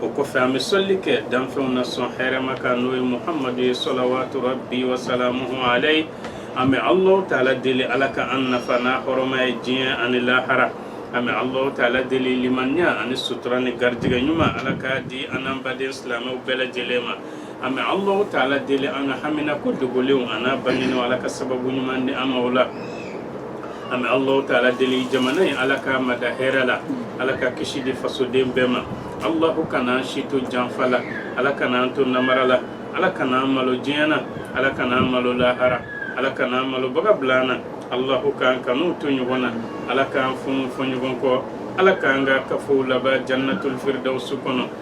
o kɔfɛ an bɛ sɔli kɛ danfɛnw na sɔn hɛrɛma kan n'o ye muhamadu ye sɔlawatu rabi wasalamuhu alayi an bɛ alahu taala deli ala ka an nafa n'a hɔrɔma ye diɲɛ ani lahara an bɛ alahu taala deli limaniya ani sutura ni garijɛgɛ ɲuman ala ka di an n'an baden silamɛw bɛɛ lajɛlen ma An bɛ Allahou ta Alaa deli an ka hamina ko dogolenw an'a bangenen Ala ka sababu ɲuman di an ma o la, an bɛ Allahou ta Alaa deli jamana in Ala k'a mada hɛrɛ la, Ala ka kisi di fasoden bɛɛ ma, Allahou kan'an si to janfa la, Ala kan'an to namara la, Ala kan'an malo diɲɛ na, Ala kan'an malo lahara, Ala kan'an malobaga bila an na, Allahou k'an kanu to ɲɔgɔn na, Ala k'an funu fɔ ɲɔgɔn kɔ, Ala k'an ka kafow laban jannatul firdawusu kɔnɔ.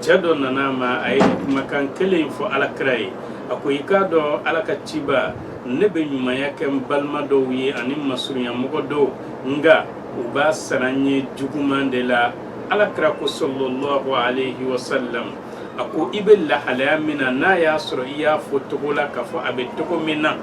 cɛ dɔ nana a ma a ye kumakan kelen in fɔ ala kira ye a ko i k'a dɔn ala ka ciba ne bɛ ɲumanya kɛ n balima dɔw ye ani masurunyamɔgɔ dɔw nka u b'a sara n ye juguman de la ala kira ko salalahu alayhi wa sallam a ko i bɛ lahalaya min na n'a y'a sɔrɔ i y'a fɔ togo la k'a fɔ a bɛ togo min na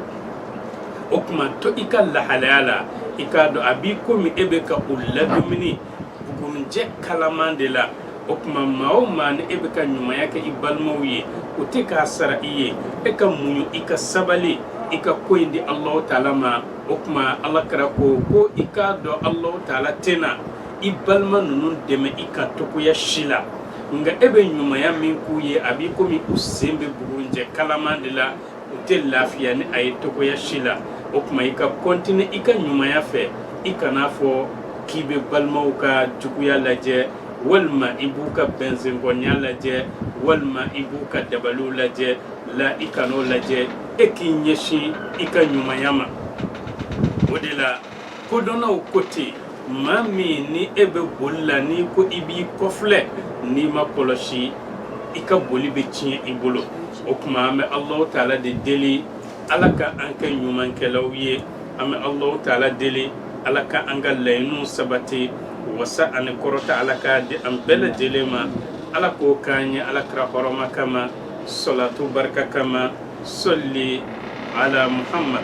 o tuma to i ka lahalaya la i k'a dɔn a b'i komi e bɛ ka u ladumuni Bugunjɛ kalaman de la o tuma maa o maa ni e bɛ ka ɲumanya kɛ i balimaw ye u tɛ k'a sara i ye e ka muɲu i ka sabali i ka ko in di Alahu taala ma o tuma Ala kira ko ko i k'a dɔn Alahu taala tɛna i balima ninnu dɛmɛ i kan togoya si la nka e bɛ ɲumanya min k'u ye a b'i komi u sen bɛ bugunjɛ kalaman de la u tɛ lafiya ni a ye togoya si la o tuma i ka kɔntine i ka ɲumanya fɛ i kana a fɔ k'i bɛ balimaw ka juguya lajɛ walima i b'u ka bɛnzɛnkɔya lajɛ walima i b'u ka dabaliw lajɛ la i kan'o lajɛ e k'i ɲɛsin i ka ɲumanya ma o de la kodɔnnaw ko ten maa min ni e bɛ boli la n'i ko i b'i kɔfilɛ n'i ma kɔlɔsi i ka boli bɛ tiɲɛ i bolo o tuma an bɛ alahu taala de deli ala ka an kɛ ɲumankɛlaw ye an bɛ alahu taala deli ala ka an ka laɲiniw sabati wasa ani kɔrɔta ala k'a di an bɛɛ lajɛlen ma ala k'o k'an ye ala kira hɔrɔma kama salatu barika kama sɔli ala muhammad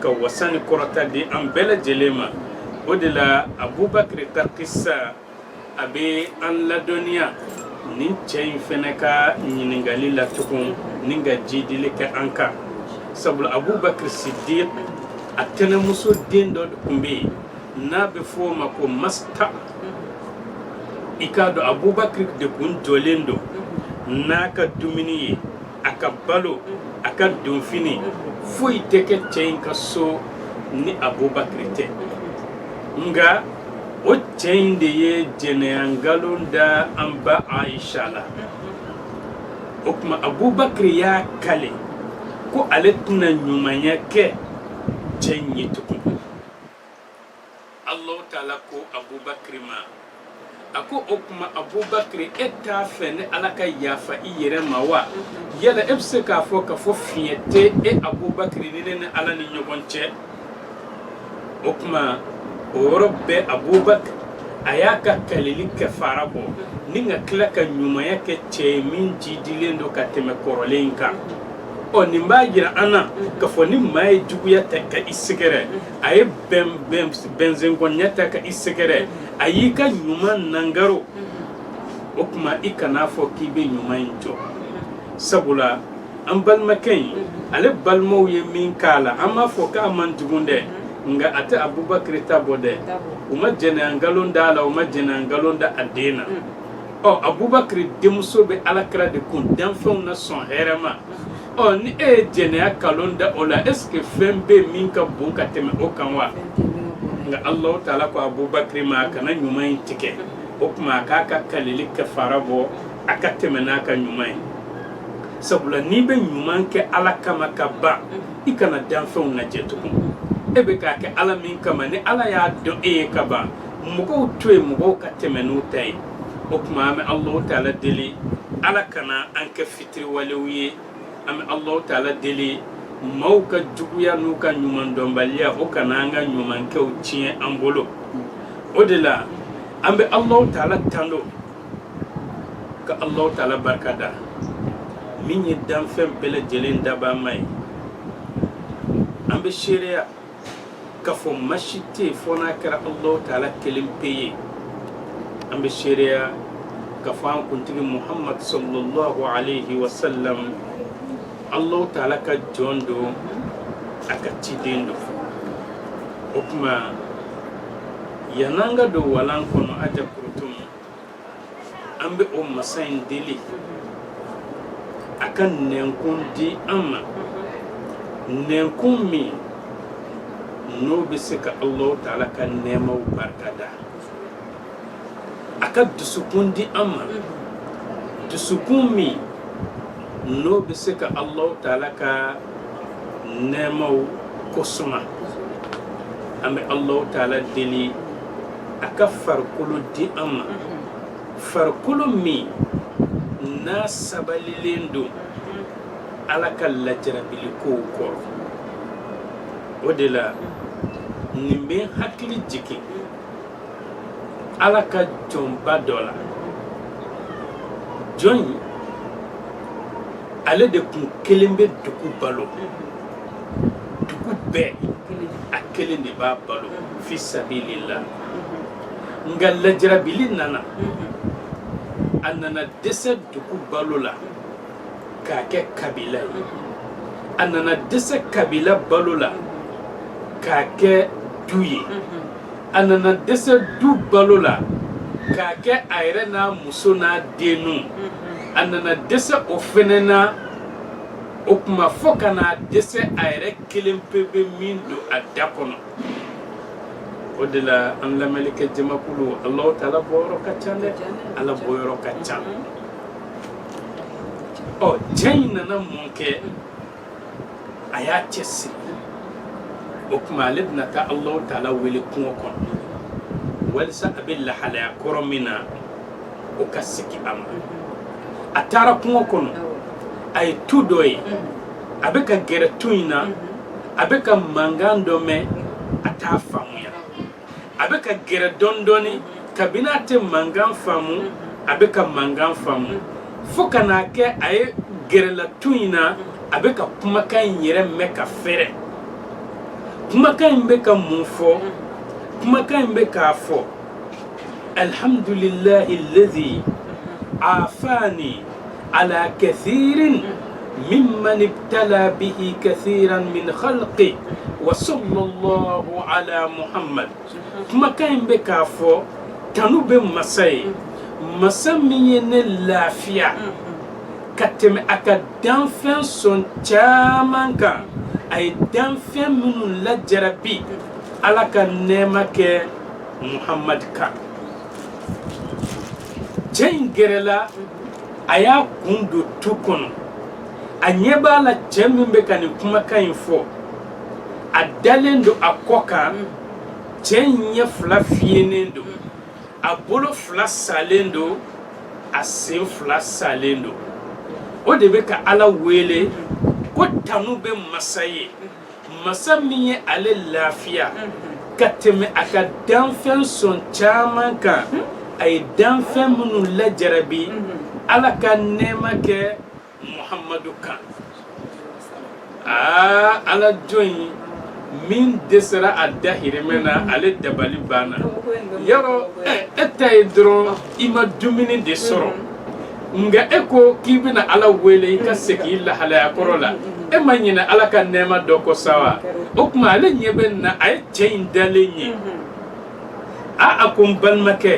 ka wasa ni kɔrɔta di an bɛɛ lajɛlen ma o de la abubakiri ka kisa a bɛ an ladɔnniya nin cɛ in fana ka ɲininkali la tugun ni ka jidili kɛ an kan sabula abubakiri sidiki a tɛnɛnmuso den dɔ tun bɛ yen n'a bɛ fɔ o ma ko masta i k'a dɔn abubakiri de kun jɔlen don n'a ka dumuni ye a ka balo a ka donfini foyi tɛ kɛ cɛ in ka so ni abubakiri tɛ nka o cɛ in de ye jɛnɛya nkalon da an ba ayisa la o tuma abubakiri y'a kale ko ale tɛna ɲumanya kɛ cɛ in ye tugun Allahu taala ko Abubakari ma a ko o tuma Abubakari e t'a fɛ ne Ala ka yafa i yɛrɛ ma wa yala e bɛ se k'a fɔ k'a fɔ fiɲɛ tɛ e Abubakari ni ne ne Ala ni ɲɔgɔn cɛ o tuma o yɔrɔ bɛɛ Abubakari a y'a ka kaleli kɛfara bɔ ni ka tila ka ɲumanya kɛ cɛ ye min jidilen don ka tɛmɛ kɔrɔlen in kan ɔ nin b'a jira an na k'a fɔ ni maa ye juguya ta ka i sɛgɛrɛ a ye bɛnzɛn kɔniya ta ka i sɛgɛrɛ a y'i ka ɲuman nagaro o tuma i kana'a fɔ k'i bɛ ɲuman in jɔ sabula an balimakɛ in ale balimaw ye min k'a la an b'a fɔ k'a man jugu dɛ nka a tɛ abubakiri ta bɔ dɛ u ma jɛnɛya nkalon da a la u ma jɛnɛya nkalon da a den na ɔ abubakiri denmuso bɛ ala kira de kun danfɛnw na sɔn hɛrɛma ɔ ni e ye jɛnɛya nkalon da o la est ce que fɛn bɛ yen min ka bon ka tɛmɛ o kan wa nka alahu taala ko abubakari ma a kana ɲuman in tigɛ o tuma a k'a ka kaleli kɛfara bɔ a ka tɛmɛ n'a ka ɲuman ye sabula n'i bɛ ɲuman kɛ ala kama ka ban i kana danfɛnw lajɛ tugun e bɛ k'a kɛ ala min kama ni ala y'a dɔn e ye ka ban mɔgɔw to yen mɔgɔw ka tɛmɛ n'u ta ye o tuma an bɛ alahu taala deli ala kana an kɛ fitiri Tiriwalew ye an bɛ Alahu taala deli maaw ka juguya n'u ka ɲumandɔnbaliya o kana an ka ɲumankɛw tiɲɛ an bolo o de la an bɛ Alahu taala tando ka Alahu taala barika da min ye danfɛn bɛɛ lajɛlen dabaa ma ye an bɛ seereya k'a fɔ ma si tɛ yen fɔ n'a kɛra alahu taala kelen pe ye an bɛ seereya k'a fɔ an kuntigi muhamadu sallallahu alayhi wa sallam alahu taala ka jɔn don a ka ciden don o tuma yann'an ka don walan kɔnɔ a jɛ an bɛ o masa in deli a ka nɛnkun di an ma nɛnkun min n'o bɛ se ka Alahu taala ka nɛɛmaw barika da a ka dusukun di an ma dusukun min n'o bɛ se ka Alahu taala ka nɛɛmaw ko suma an bɛ Alahu taala deli a ka farikolo di an ma farikolo min n'a sabalilen don ala ka lajarabili kow kɔrɔ o de la nin bɛ n hakili jigin ala ka jɔnba dɔ la jɔn in ale de tun kelen bɛ dugu balo dugu bɛɛ a kelen de b'a balo fi sabilila nka lajarabili nana a nana dɛsɛ dugu balo la k'a kɛ kabila ye a nana dɛsɛ kabila balo la k'a kɛ du ye a nana dɛsɛ du balo la k'a kɛ a yɛrɛ n'a muso n'a denninw a nana dɛsɛ o fɛnɛ na o tuma fo ka na dɛsɛ a yɛrɛ kelen pe bɛ min don a da kɔnɔ o de la an lamɛnlikɛ jamakulu Alahu taala bɔyɔrɔ ka ca dɛ Ala bɔyɔrɔ ka ca ɔ cɛ in nana mun kɛ a y'a cɛ siri o tuma ale bɛna taa Alahu taala wele kungo kɔnɔ walisa a bɛ lahalaya kɔrɔ min na o ka segin a ma a taara kungo kɔnɔ a ye tu dɔ ye a bɛ ka gɛrɛ tu in na a bɛ ka mankan dɔ mɛn a t'a faamuya a bɛ ka gɛrɛ dɔɔni dɔɔni kabini a tɛ mankan faamu a bɛ ka mankan faamu fo ka n'a kɛ a ye gɛrɛla tu in na a bɛ ka kumakan in yɛrɛ mɛn ka fɛrɛ kumakan in bɛ ka mun fɔ kumakan in bɛ k'a fɔ alhamdulillahi alladhi afani ala kathirin mimman ibtala bihi kathiran min khalqi wa sallallahu ala muhammad kumakan in bɛ k'a fɔ tanu bɛ masa ye masa min ye ne lafiya ka tɛmɛ a ka danfɛn sɔn caman kan a ye danfɛn minnu lajarabi ala ka nɛɛma kɛ Muhammad kan cɛ in gɛrɛla a y'a kun don tu kɔnɔ a ɲɛ b'a la cɛ min bɛ ka nin kumakan in fɔ a dalen don a kɔ kan cɛ in ɲɛ fila fiyenen don a bolo fila salen don a sen fila salen don o de bɛ ka ala wele ko tanu bɛ masa ye masa min ye ale lafiya ka tɛmɛ a ka danfɛn sɔn caman kan a ye danfɛn minnu lajarabi ala ka nɛɛma kɛ muhamadu kan aa ala jɔn in min dɛsɛra a dahirimɛ na ale dabali banna yɔrɔ e ta ye dɔrɔn i ma dumuni de sɔrɔ nka e ko k'i bɛna ala wele i ka segin i lahalaya kɔrɔ la e ma ɲinɛ ala ka nɛɛma dɔ kɔ sa wa o tuma ale ɲɛ bɛnna a ye cɛ in dalen ye a a ko n balimakɛ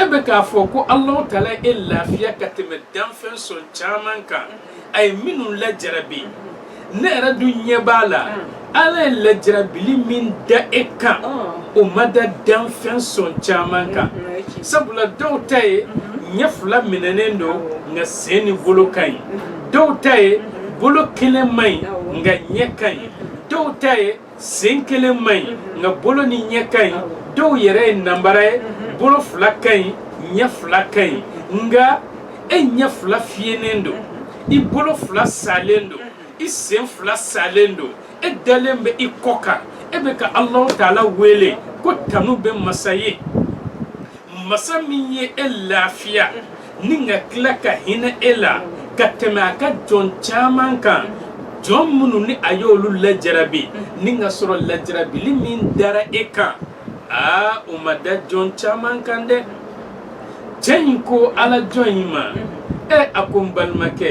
e bɛ k'a fɔ ko alahu taala ye e lafiya ka tɛmɛ danfɛn sɔn caman kan a ye minnu lajarabi ne yɛrɛ dun ɲɛ b'a la ala ye lajarabili min da e kan o ma da danfɛn sɔn caman kan sabula dɔw ta ye ɲɛ fila minɛnen don nka sen ni bolo ka ɲi dɔw ta ye bolo kelen man ɲi nka ɲɛ ka ɲi dɔw ta ye sen kelen man ɲi mhm. nka bolo ni ɲɛ ka ɲi dɔw yɛrɛ ye nanbara ye mhm. bolo fila ka ɲi ɲɛ fila ka ɲi nka e ɲɛ fila fiyenen don mhm. i bolo fila salen don i sen fila salen don e dalen bɛ i kɔ kan e bɛ ka alahu taala wele ko tanu bɛ masa ye masa min ye e lafiya ni ka tila ka hinɛ e la ka tɛmɛ a ka jɔn caman kan jɔn minnu ni a y'olu lajarabi ni ka sɔrɔ lajarabili min dara e kan aa o ma da jɔn caman kan dɛ cɛ in ko ala jɔn in ma ɛ a ko n balimakɛ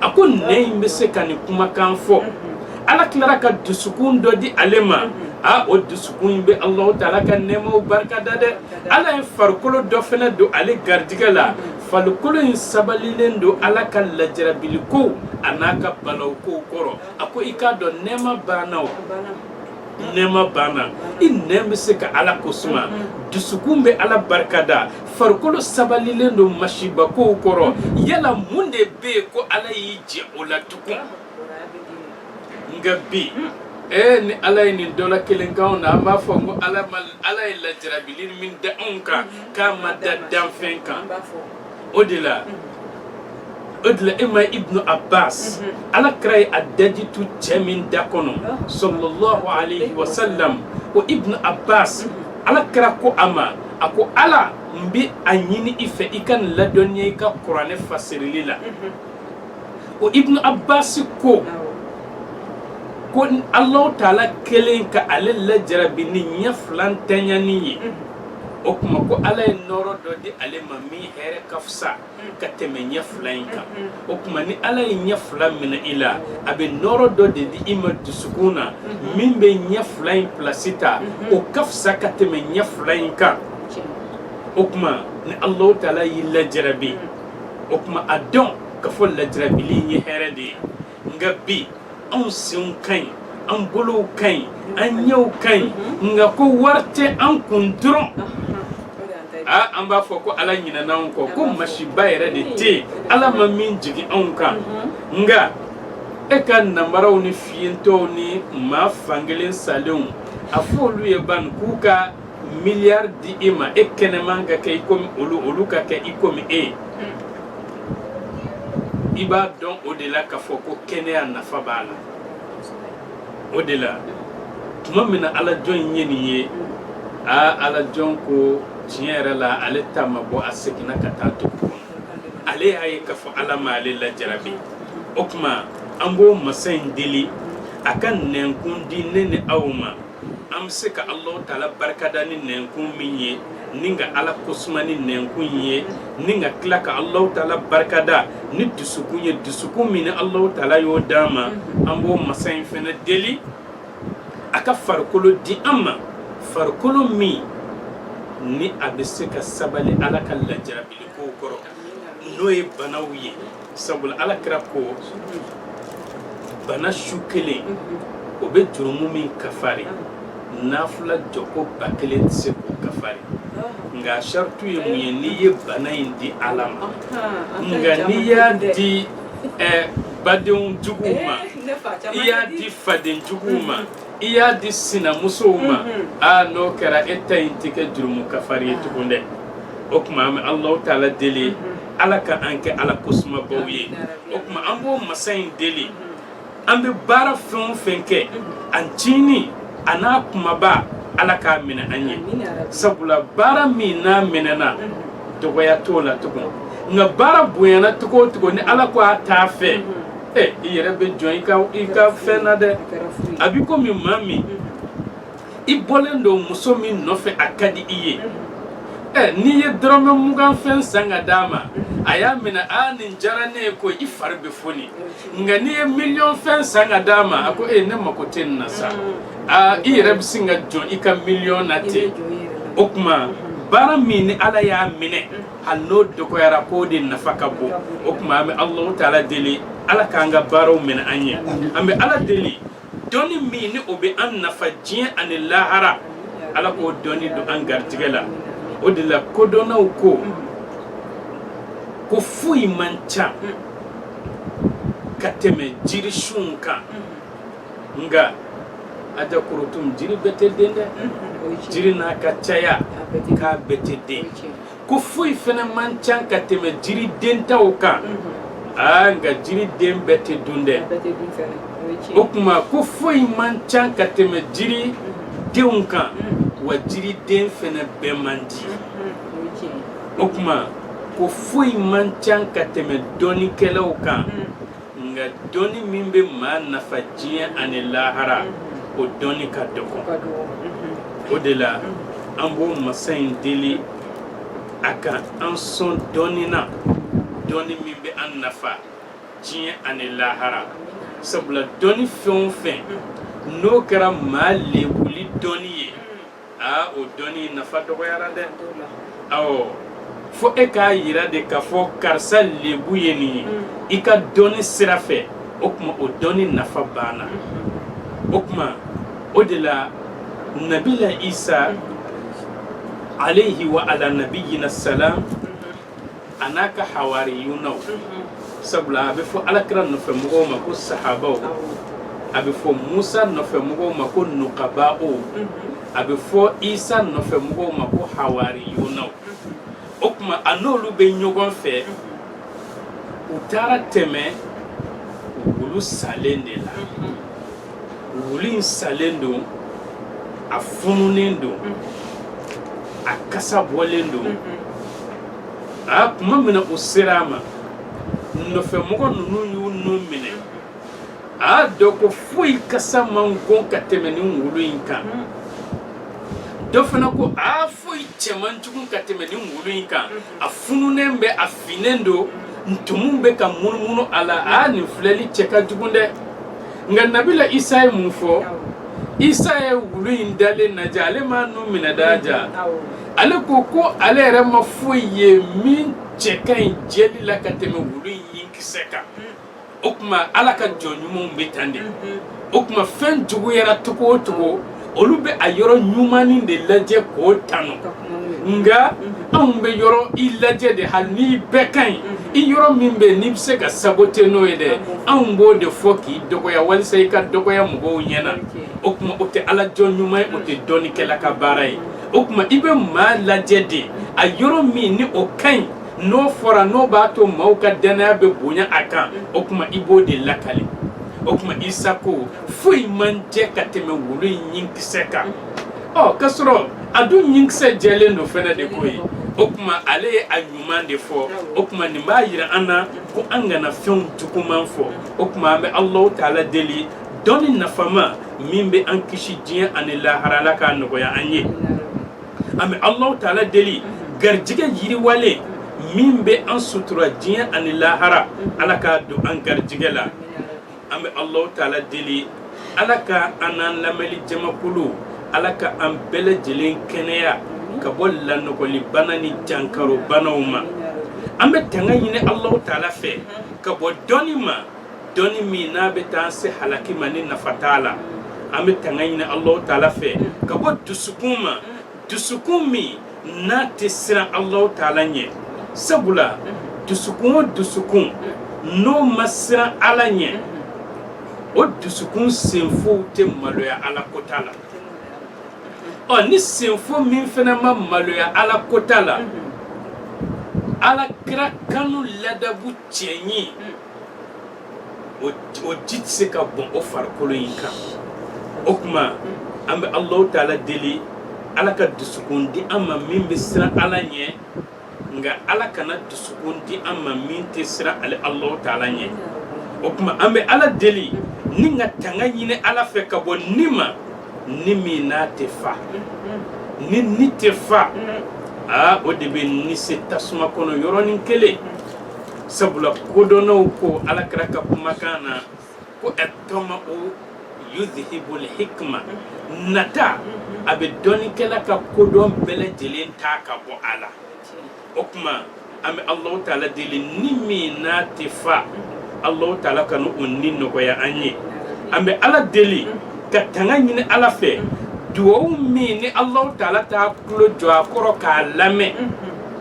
a ko nɛn in bɛ se ka nin kumakan fɔ ala tilara ka dusukun dɔ di ale ma aa o dusukun in bɛ alahu taala ka nɛɛmaw barika da dɛ ala ye farikolo dɔ fana don ale garijɛgɛ la farikolo in sabalilen don ala ka lajarabili kow a n'a ka balawu kow kɔrɔ a ko i k'a dɔn nɛɛma banna nɛɛma banna i nɛn bɛ se ka ala ko suma dusukun bɛ ala barikada farikolo sabalilen don masibakow kɔrɔ yala mun de bɛ yen ko ala y'i jɛ o la tugun nka bi ee ni ala ye nin dɔ la kelen k'an na an b'a fɔ ko ala ye lajarabili min da anw kan k'a ma da danfɛn kan o de la o de la e ma ibnu abbas ala kira ye a daji tu cɛ min da kɔnɔ sallallahu alayhi wa sallam o ibnu abbas ala kira ko a ma a ko ala n bɛ a ɲini i fɛ i ka nin ladɔnniya i ka kuranɛ fasirili la o ibnu abbas ko ko alahu taala kɛlen ka ale lajarabi ni ɲɛ fila ntanya nin ye o tuma ko ala ye nɔɔrɔ dɔ di ale ma min hɛrɛ ka fisa ka tɛmɛ ɲɛ fila in kan o tuma ni ala ye ɲɛ fila minɛ i la a bɛ nɔɔrɔ dɔ de di i ma dusukun na min bɛ ɲɛ fila in pilasi ta o ka fisa ka tɛmɛ ɲɛ fila in kan o tuma ni alahu taala y'i lajarabi o tuma a dɔn k'a fɔ lajarabili in ye hɛrɛ de ye nka bi anw senw ka ɲi an bolow ka ɲi an ɲɛw ka ɲi nka ko wari tɛ an kun dɔrɔn aa an b'a fɔ ko ala ɲinɛna anw kɔ ko masiba yɛrɛ de tɛ yen ala ma min jigin anw kan nka e ka nanbaraw ni fiyentɔw ni maa fankelen salenw a fɔ olu ye ban k'u ka miliyari di i ma e kɛnɛman ka kɛ i komi olu olu ka kɛ i komi e ye i b'a dɔn o de la k'a fɔ ko kɛnɛya nafa b'a la o de la tuma min na alajɔn in ye nin ye aa alajɔn ko tiɲɛ yɛrɛ la ale ta man bon a seginna ka taa to ale y'a ye k'a fɔ ala ma ale lajarabi o tuma an b'o masa in deli a ka nɛnkun di ne ni aw ma an bɛ se ka alahu taala barikada ni nɛnkun min ye ni ka ala kosuma ni nɛnkun ye ni ka tila ka alahu taala barikada ni dusukun ye dusukun min ni alahu taala y'o d'an ma an b'o masa in fana deli a ka farikolo di an ma farikolo min ni a bɛ se ka sabali ala ka lajarabili kow kɔrɔ n'o ye banaw ye sabula alakira ko bana su kelen o bɛ jurumu min kafari nafila jɔko ba kelen tɛ se k'o kafari nka a saratu ye mun ye n'i ye bana in di ala ma nka n'i y'a di baden juguw eh, ma i y'a di faden juguw ma mm-hmm. i y'a di sinamusow ma mm-hmm. a ah, n'o kɛra e ta in tɛ kɛ jurumu kafari ye ah. tugun dɛ o tuma an bɛ alahu taala deli mm-hmm. ala ka an kɛ ala kosumabaw ye o tuma an b'o masa in deli an bɛ baara fɛn o fɛn kɛ a ntiinin a n'a kumaba ala k'a minɛ an ye sabula baara min n'a minɛna dɔgɔya t'o la tugun nka baara bonyana cogo o cogo ni ala ko a t'a fɛ ɛ i yɛrɛ bɛ jɔn i ka i ka fɛn na dɛ a b'i komi maa min i bɔlen don muso min nɔfɛ a ka di i ye ɛ n'i ye dɔrɔmɛ mugan fɛn san ka d'a ma a y'a minɛ a nin diyara ne ye ko i fari bɛ foni nka n'i ye miliyɔn fɛn san ka d'a ma a ko e ne mako tɛ nin na sa aa i yɛrɛ bɛ sin ka jɔn i ka miliyɔn na ten o tuma baara min ni ala y'a minɛ hali n'o dɔgɔyara k'o de nafa ka bon o tuma an bɛ alahu taala deli ala k'an ka baaraw minɛ an ye an bɛ ala deli dɔnni min ni o bɛ an nafa diɲɛ ani lahara ala k'o dɔnni don an garijɛgɛ la o de la kodɔnnaw ko ko foyi man ca ka tɛmɛ jirisunw kan nka aja korotum jiri bɛɛ tɛ den dɛ jiri n'a ka caya k'a bɛɛ tɛ den ko foyi fana man ca ka tɛmɛ jiri dentaw kan aa nka jiriden bɛɛ tɛ dun dɛ o tuma ko foyi man ca ka tɛmɛ jiridenw kan wa jiriden fana bɛɛ man di o tuma ko foyi man ca ka tɛmɛ dɔnnikɛlaw kan nka dɔnni min bɛ maa nafa diɲɛ ani lahara o dɔnni ka dɔgɔ o de la an b'o masa in deli a ka an sɔn dɔnni na dɔnni min bɛ an nafa diɲɛ ani lahara sabula dɔnni fɛn o fɛn n'o kɛra maa lebuli dɔnni ye aa o dɔnni nafa dɔgɔyara dɛ awɔ fo e k'a yira de k'a fɔ karisa lebu ye nin ye mm. i ka dɔnni sira fɛ o tuma o dɔnni nafa banna mm-hmm. o tuma o de la nabila isa mm-hmm. alayhi wa ala nabiyina salam a n'a ka hawariyunaw sabula a bɛ fɔ ala kira nɔfɛmɔgɔw ma ko sahabaw a bɛ fɔ musa nɔfɛmɔgɔw ma ko nukabaw a bɛ fɔ isa nɔfɛmɔgɔw ma ko hawariyunaw o tuma a n'olu bɛ ɲɔgɔn fɛ u taara tɛmɛ wulu salen de la wulu in salen don a fununen don a kasa bɔlen don a tuma min u sera a ma nɔfɛmɔgɔ ninnu y'u nun minɛ a dɔ ko foyi kasa man go ka tɛmɛ nin wulu in kan dɔ fana ko a foyi cɛ man jugu ka tɛmɛ nin wulu in kan a fununen bɛ a finnen don ntumu bɛ ka munumunu a la a nin filɛli cɛ ka jugu dɛ nka nabila isa ye mun fɔ isa ye wulu in dalen lajɛ ale m'a nun minɛ dɛ aja ale ko ko ale yɛrɛ ma foyi ye min cɛ ka ɲi jɛli la ka tɛmɛ wulu in ɲinkisɛ kan o tuma ala ka jɔn ɲumanw bɛ tan de o tuma fɛn juguyara cogo o cogo olu bɛ a yɔrɔ ɲumannin de lajɛ k'o tanu nka anw bɛ yɔrɔ i lajɛ de hali n'i bɛɛ ka ɲi i yɔrɔ min bɛ yen n'i bɛ se ka sabote n'o ye dɛ anw b'o de fɔ k'i dɔgɔya walisa i ka dɔgɔya mɔgɔw ɲɛ na o tuma o tɛ ala jɔn ɲuman ye o tɛ dɔnnikɛla ka baara ye o tuma i bɛ maa lajɛ de a yɔrɔ min ni o ka ɲi n'o fɔra n'o b'a to maaw ka dannaya bɛ bonya a kan o tuma i b'o de lakali o tuma Isa ko foyi man jɛ ka tɛmɛ wulu in ɲinkisɛ kan ɔ ka sɔrɔ a dun ɲinkisɛ jɛlen don fɛnɛ de ko ye o tuma ale ye a ɲuman de fɔ o tuma nin b'a jira an na ko an kana fɛnw juguman fɔ o tuma an bɛ Alahu taala deli dɔnni nafama min bɛ an kisi diɲɛ ani lahara ala k'a nɔgɔya an ye an bɛ alahu taala deli garijɛgɛ yiriwalen min bɛ an sutura diɲɛ ani lahara ala k'a don an garijɛgɛ la an bɛ alahu taala deli ala ka an n'an lamɛnni jamakulu ala ka an bɛɛ lajɛlen kɛnɛya ka bɔ lanɔgɔlibana ni jankarobanaw ma an bɛ tanga ɲini alahu taala fɛ ka bɔ dɔnni ma dɔnni min n'a bɛ t'an se halaki ma ni nafa t'a la an bɛ tanga ɲini alahu taala fɛ ka bɔ dusukun ma dusukun min n'a tɛ siran alahu taala ɲɛ sabula dusukun o dusukun n'o ma siran ala ɲɛ o dusukun senfow tɛ maloya ala kota la ɔ ni senfo min fana ma maloya ala kota la ala kira kanu ladabu cɛɲi o o ji tɛ se ka bɔn o farikolo in kan o tuma an bɛ Alahu taala deli Ala ka dusukun di an ma min bɛ siran Ala ɲɛ nka Ala kana dusukun di an ma min tɛ siran ale Alahu taala ɲɛ o tuma an bɛ Ala deli ni ka tanga ɲini Ala fɛ ka bɔ ni ma ni min n'a tɛ fa ni ni tɛ fa aa o de bɛ ni se tasuma kɔnɔ yɔrɔnin kelen. sabula kodɔnnaw ko ala kira ka kumakan na ko atama'u yuzihibul hikma nata a bɛ dɔnnikɛla ka kodɔn bɛɛ lajɛlen ta ka bɔ a la o tuma an bɛ alahu taala deli ni min n'a tɛ fa alahu taala kana o ni nɔgɔya an ye an bɛ ala deli ka tanga ɲini ala fɛ duwawu min ni alahu taala t'a tulo jɔ a kɔrɔ k'a lamɛn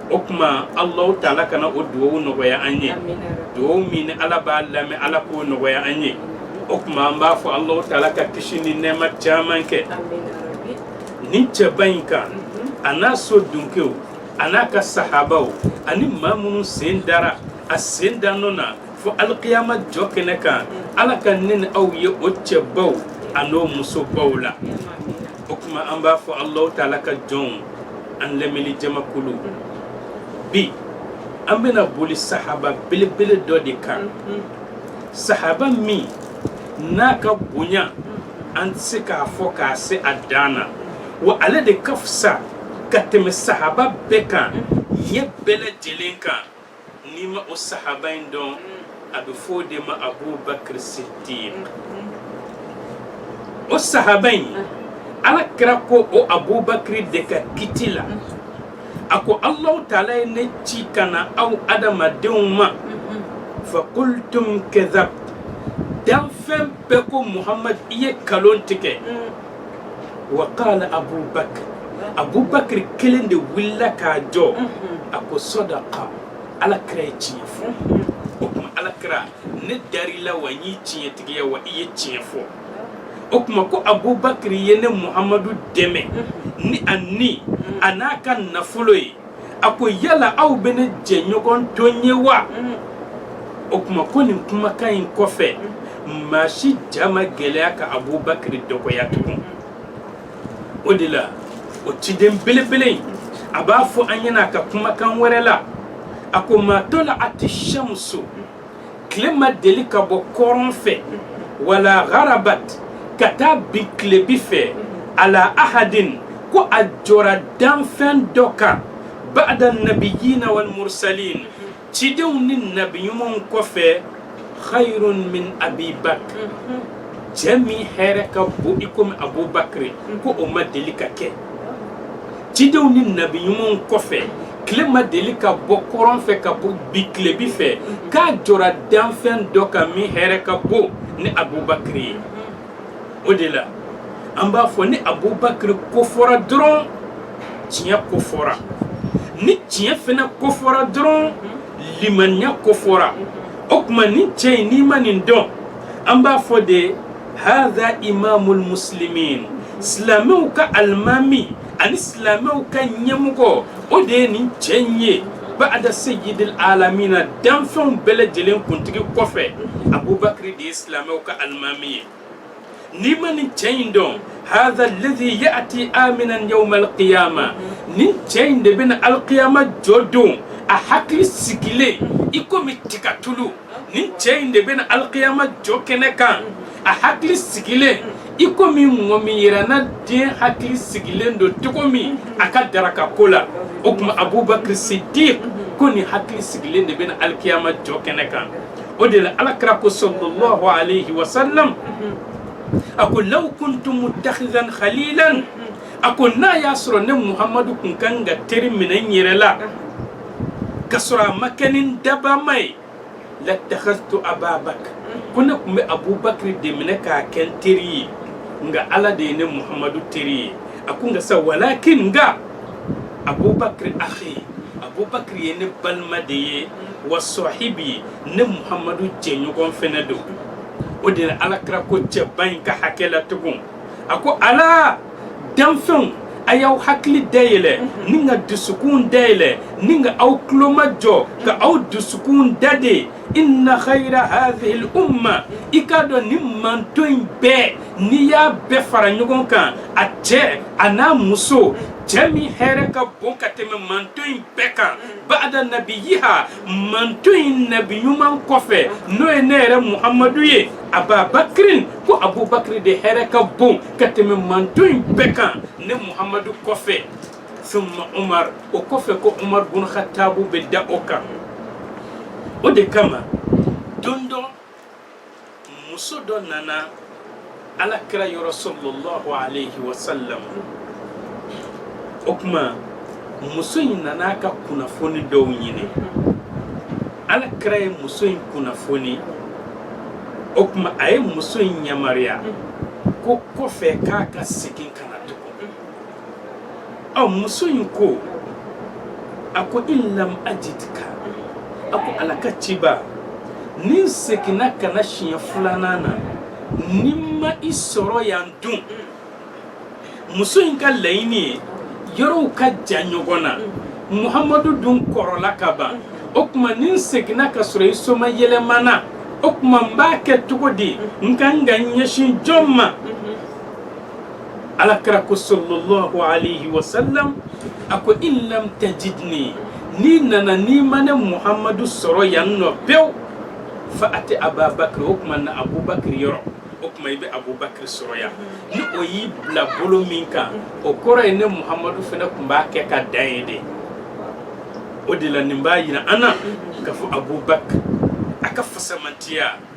o tuma alahu taala kana o dugawu nɔgɔya an ye dugawu min ni ala b'a lamɛn ala k'o nɔgɔya an ye o tuma an b'a fɔ alahu taala ka kisi ni nɛma caman kɛ nin cɛba in kan a n'a so dunkew a n'a ka sahabaw ani maa minnu sen dara a sen dan nɔ na fo alikiyama jɔ kɛnɛ kan ala ka ne ni aw ye o cɛbaw an'o musobaw la o tuma an b'a fɔ alahu taala ka jɔnw an lamɛnni jamakulu bi an bɛna boli sahaba belebele dɔ de kan sahaba min n'a ka bonya an tɛ se k'a fɔ k'a se a dan na wa ale de ka fisa ka tɛmɛ sahaba bɛɛ kan ye bɛɛ lajɛlen kan n'i ma o sahaba in dɔn mm. a bɛ fɔ o de ma abubakar siddiq mm-hmm. o sahaba in mm-hmm. ala kira ko o abubakar de ka kiti la mm-hmm. a ko allahu taala ye ne ci ka na aw adamadenw ma fa kultum kadhabt danfɛn bɛɛ ko muhamad i ye kalon tigɛ mm. wa qala abubakar abubakar kelen de wulila k'a jɔ a ko sadaka ala kira ye tiɲɛ fɔ o tuma ala kira ne dar'i la wa n y'i tiɲɛtigiya wa i ye tiɲɛ fɔ o tuma ko abubakar ye ne muhamadu dɛmɛ ni a ni an'a ka nafolo ye a ko yala aw bɛ ne jɛɲɔgɔn to n ye wa o tuma ko nin kumakan in kɔfɛ maa si ja ma gɛlɛya ka abubakari dɔgɔya tugun o de la o ciden belebele in a b'a fɔ an ɲɛna a ka kumakan wɛrɛ la a ko ma tala'ati shamsu tile ma deli ka bɔ kɔrɔn fɛ wala gharabat ka taa bi tilebi fɛ ala ahadin ko a jɔra danfɛn dɔ kan ba'da nabiyina wal mursalin cidenw ni nabi ɲumanw kɔfɛ khayrun min abi bakr cɛ min hɛrɛ ka bon i komi abubakiri ko o ma deli ka kɛ cidenw ni nabi ɲumanw kɔfɛ tile ma deli ka bɔ kɔrɔn fɛ ka bi tilebi fɛ k'a jɔra danfɛn dɔ kan min hɛrɛ ka bon ni abubakiri ye o de la an b'a fɔ ni abubakiri kofɔra dɔrɔn tiɲɛ kofɔra ni tiɲɛ fana kofɔra dɔrɔn limaniya kofɔra o tuma nin cɛ in n'i ma nin dɔn an b'a fɔ de hadha imamul muslimin silamɛw ka alimami ani silamɛw ka ɲɛmɔgɔ o de ye nin cɛ in ye ba'da sayyidil alamina danfɛnw bɛɛ lajɛlen kuntigi kɔfɛ abubakari de ye silamɛw ka alimami ye n'i ma nin cɛ in dɔn hadha alladhi ya'ti aminan yawma alqiyama nin cɛ in de bɛ na alikiyama jɔ don a hakili sigilen i komi tiga tulu nin cɛ in de bɛna alikiyama jɔ kɛnɛ kan a hakili sigilen i komi mɔgɔ min yera na den hakili sigilen don cogo min a ka daraka ko la o tuma abubakar sidik kɔni hakili sigilen de bɛna alikiyama jɔ kɛnɛ kan o de la alakira ko sallallahu alayhi wa sallam a ko law kuntu mutakhizan khalilan a ko n'a y'a sɔrɔ ne muhamadu kun kan ka teri minɛ n yɛrɛ la ka sɔrɔ a ma kɛ ne dabaa ma ye lattakhaztu ababakr ko ne tun bɛ abubakiri de minɛ k'a kɛ n teri ye nka ala de ye ne muhamadu teri ye a ko nka sa walakin nka abubakiri akhi abubakiri ye ne balima de ye wa sahibi ne muhamadu jɛɲɔgɔn fɛnɛ don o de la alakira ko cɛba in ka hakɛ la tugun a ko ala danfɛnw a y'aw hakili dayɛlɛ ni ka dusukun dayɛlɛ ni ka aw tulo majɔ ka aw dusukun dade inna khayra hadhihil umma i k'a dɔn nin mantɔn in bɛɛ n'i y'a bɛɛ fara ɲɔgɔn kan a cɛ a n'a muso cɛ min hɛrɛ ka bon ka tɛmɛ mantɔn in bɛɛ kan ba'da nabiyiha mantɔn in nabi ɲuman kɔfɛ n'o ye ne yɛrɛ muhamadu ye ababakirin ko abubakiri de hɛrɛ ka bon ka tɛmɛ mantɔn in bɛɛ kan ne muhamadu kɔfɛ summa umar o kɔfɛ ko umar bun khatabu bɛ da o kan o de kama don dɔ muso dɔ nana ala kira yɔrɔ sallallahu aleyhi wa salam o tuma muso in nana ka kunnafoni dɔw ɲini ala kira ye muso in kunnafoni o tuma a ye muso in yamaruya ko kɔfɛ k'a ka segin ka ɔ muso in ko a ko in lam ajidka a ko ala ka ciba ni n seginna ka na siɲɛ filanan na ni n ma i sɔrɔ yan dun muso in ka laɲini ye yɔrɔw ka jan ɲɔgɔn na muhamadu dun kɔrɔla ka ban o tuma ni n seginna ka sɔrɔ i somayɛlɛmana o tuma n b'a kɛ cogo di n kan ka n ɲɛsin jɔn ma alakira ko sallallahu alayhi wa sallam a ko in lam tajidni n'i nana n'i ma ne muhamadu sɔrɔ yan nɔ pewu faati ababakiri o tuma na abubakiri yɔrɔ o tuma i bɛ abubakiri sɔrɔ yan ni o y'i bila bolo min kan o kɔrɔ ye ne muhamadu fana tun b'a kɛ ka dan yen de o de la nin b'a jira an na k'a fɔ abubakiri a ka fisamantiya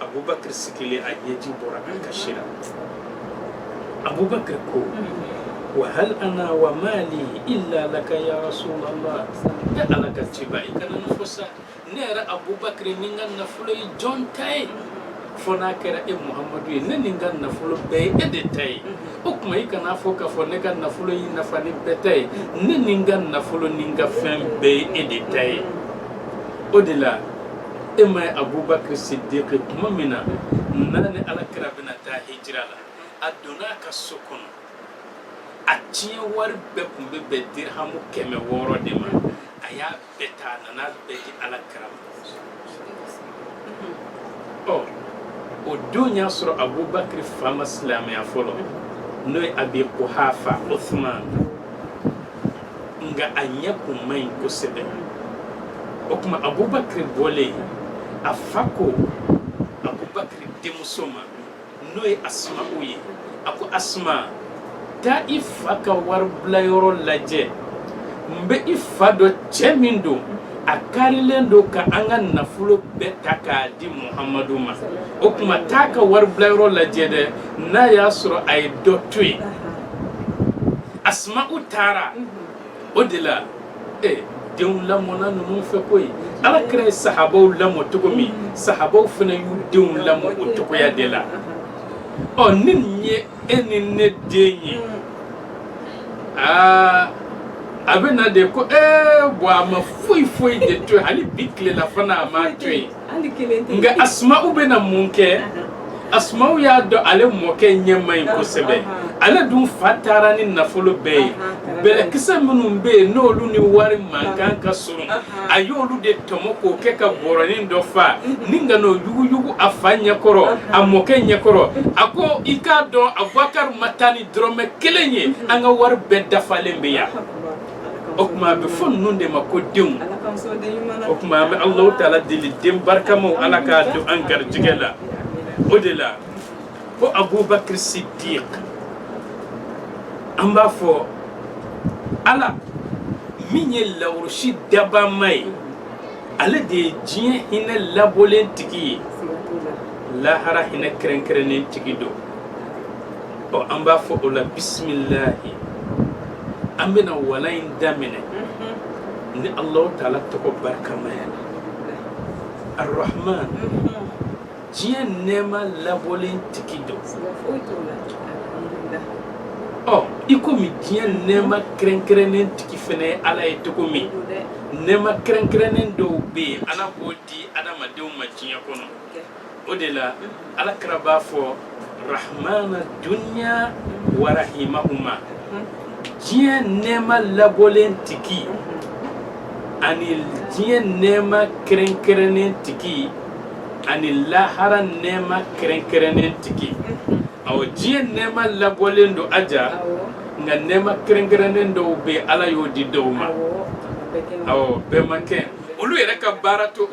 abubakar sidiki a ɲɛji bɔra a kasi la abubakar ko wa hal ana wa mali illa laka ya rasulallah e ala ka ciba i kana n'a fɔ sa ne yɛrɛ abubakar ni n ka nafolo ye jɔn ta ye fo n'a kɛra e muhamadu ye ne ni n ka nafolo bɛɛ ye e de ta ye o tuma i kana a fɔ k'a fɔ ne ka nafolo y'i nafa ni bɛɛ ta ye ne ni n ka nafolo ni n ka fɛn bɛɛ ye e de ta ye o de la e m'a ye abubakari sidiki tuma min na n'a ni alakira bɛna taa hijira la a donna a ka so kɔnɔ a tiɲɛ wari bɛɛ tun bɛ bɛn dirihamu kɛmɛ wɔɔrɔ de ma a y'a bɛɛ ta a nana a bɛɛ di alakira ma ɔ o dun y'a sɔrɔ abubakari fa ma silamɛya fɔlɔ n'o ye abi kuhafa uthman nka a ɲɛ kun man ɲi kosɛbɛ o tuma abubakari bɔlen a fa ko abubakari denmuso ma n'o ye asuma'u ye a ko asuma taa i fa ka waribilayɔrɔ lajɛ n bɛ i fa dɔn cɛ min don a karilen don ka an ka nafolo bɛɛ ta k'a di muhamadu ma o tuma taa a ka waribilayɔrɔ lajɛ dɛ n'a y'a sɔrɔ a ye dɔ to yen asuma'u taara o de la ee denw lamɔna ninnu fɛ koyi ala kira ye sahabaw lamɔ cogo min sahabaw fana y'u denw lamɔ o cogoya de la ɔ ni nin ye e ni ne den ye aa a bɛ na de ko ee bɔn a ma foyi foyi de to yen hali bi tilelafana a m'a to yen nka asuma'u bɛ na mun kɛ asuma'u y'a dɔn ale mɔkɛ ɲɛ man ɲi kosɛbɛ ale dun fa taara ni nafolo bɛɛ ye bɛlɛkisɛ minnu bɛ yen n'olu ni wari mankan ka surun a y'olu de tɔmɔ k'o kɛ ka bɔrɔnin dɔ fa ni ka n'o yuguyugu a fa ɲɛkɔrɔ a mɔkɛ ɲɛkɔrɔ a ko i k'a dɔn abubakari ma taa ni dɔrɔmɛ kelen ye an ka wari bɛɛ dafalen bɛ yan o tuma a bɛ fɔ ninnu de ma ko denw o tuma an bɛ alahu taala deli den barikamaw ala k'a don an garijɛgɛ la o de la ko abubakiri sidiq an b'a fɔ ala min ye lawurusi dabama ye ale de ye diɲɛ hinɛ labɔlen tigi ye lahara hinɛ kɛrɛnkɛrɛnnen tigi don ɔ an b'a fɔ o la bisimilahi an bɛna wala in daminɛ ni alahu taala tɔgɔ barikama ye arahman diɲɛ nɛɛma labɔlen tigi don i komi diɲɛ nɛɛma kɛrɛnkɛrɛnnen tigi fɛnɛ ye ala ye cogo min nɛɛma kɛrɛnkɛrɛnnen dɔw bɛ yen ala b'o di adamadenw ma diɲɛ kɔnɔ o de la alakira b'a fɔ rahmana dunya wa rahimahuma diɲɛ nɛɛma labɔlen tigi ani diɲɛ nɛɛma kɛrɛnkɛrɛnnen tigi ani lahara nɛɛma kɛrɛnkɛrɛnnen tigi awɔ diɲɛ nɛɛma labɔlen don aja nka nɛɛma kɛrɛnkɛrɛnnen dɔw bɛ ala y'o di dɔw ma awɔ bɛɛ ma kɛ olu yɛrɛ ka baara to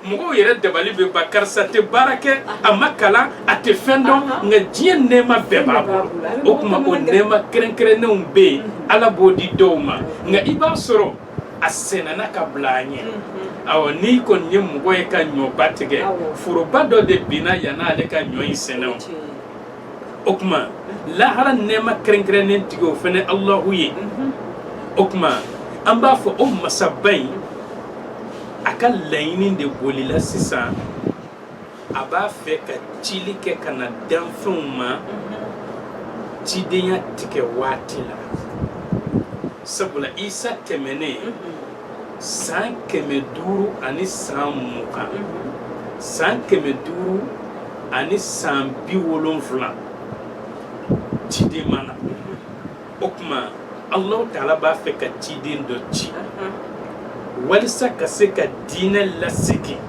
mɔgɔw yɛrɛ dabali bɛ ban karisa tɛ baara kɛ a ma kalan a tɛ fɛn dɔn nka diɲɛ nɛɛma bɛɛ b'a bolo o tuma o nɛɛma kɛrɛnkɛrɛnnenw bɛ yen ala b'o di dɔw ma nka i b'a sɔrɔ a sɛnɛna ka bila a ɲɛ awɔ n'i kɔni ye mɔgɔ ye ka ɲɔba tigɛ foroba dɔ de binna yan'ale ka ɲɔ in sɛnɛ o o tuma lahara nɛɛma kɛrɛnkɛrɛnnen tigi o fɛnɛ alahu ye o tuma an b'a fɔ o masaba in a ka laɲini de bolila sisan a b'a fɛ ka cili kɛ ka na danfɛnw ma cidenya tigɛ waati la sabula isa tɛmɛnen san kɛmɛ duuru ani san mugan san kɛmɛ duuru ani san bi wolonfila ciden ma na o tuma alahu taala b'a fɛ ka ciden dɔ ci walisa ka se ka diinɛ lasegin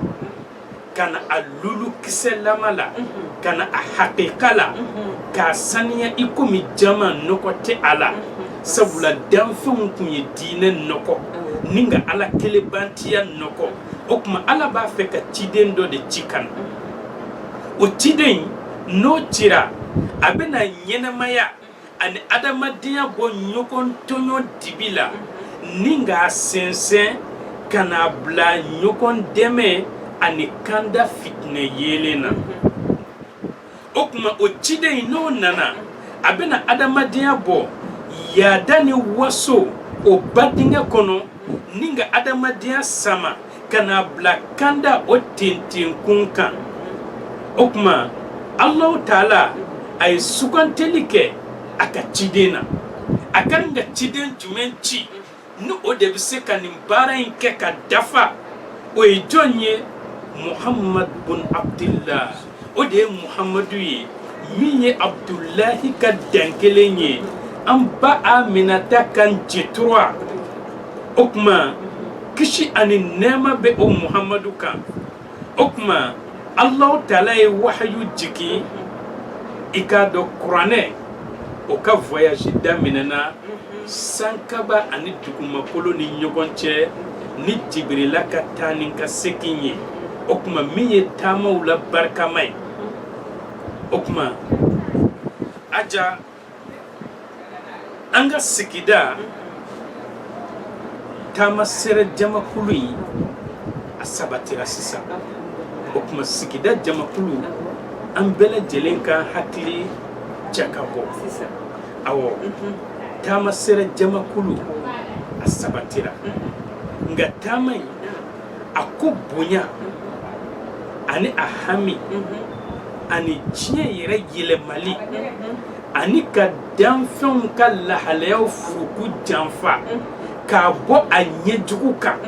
ka na a lulu kisɛlama la ka na a hakika la k'a saniya i komi jaman nɔgɔ tɛ a la sabula danfɛnw tun ye diinɛ nɔgɔ ni ka ala kelenbantiya nɔgɔ o tuma ala b'a fɛ ka ciden dɔ de ci ka na o ciden n'o cira a bɛna ɲɛnamaya ani adamadenya bɔ ɲɔgɔn tɔɲɔ dibi la ni k'a sɛnsɛn ka n'a bila ɲɔgɔn dɛmɛ ani kanda fitinɛ yeelen na o tuma o ciden in n'o nana a bɛna adamadenya bɔ yaada ni waso o ba dingɛ kɔnɔ ni ka adamadenya sama ka n'a bila kanda o tenten kun kan o tuma alahu taala a ye suganteli kɛ a ka ciden na a kan ka ciden jumɛn ci ni o de bɛ se ka nin baara in kɛ k'a dafa o ye jɔn ye muhamadu bun abudilahi o de ye muhamadu ye min ye abudulahi ka dankelen ye an ba aminata kan jetura o tuma kisi ani nɛɛma bɛ o muhamadu kan o tuma alahu taala ye wahayu jigin i k'a dɔn kuranɛ o ka voyage daminɛna sankaba ani dugumakolo ni ɲɔgɔn cɛ ni jibirila ka taa ni ka segin ye o tuma min ye taamaw la barikama ye o tuma aja an ka sigida taama sɛrɛ jamakulu in a sabatira sisan o tuma sigida jamakulu an bɛɛ lajɛlen k'an hakili jakabɔ awɔ taama sɛrɛ jamakulu a sabatira nka taama in a ko bonya ani a hami ani diɲɛ yɛrɛ yɛlɛmali ani ka danfɛnw ka lahalayaw furuku janfa k'a bɔ a ɲɛ jugu kan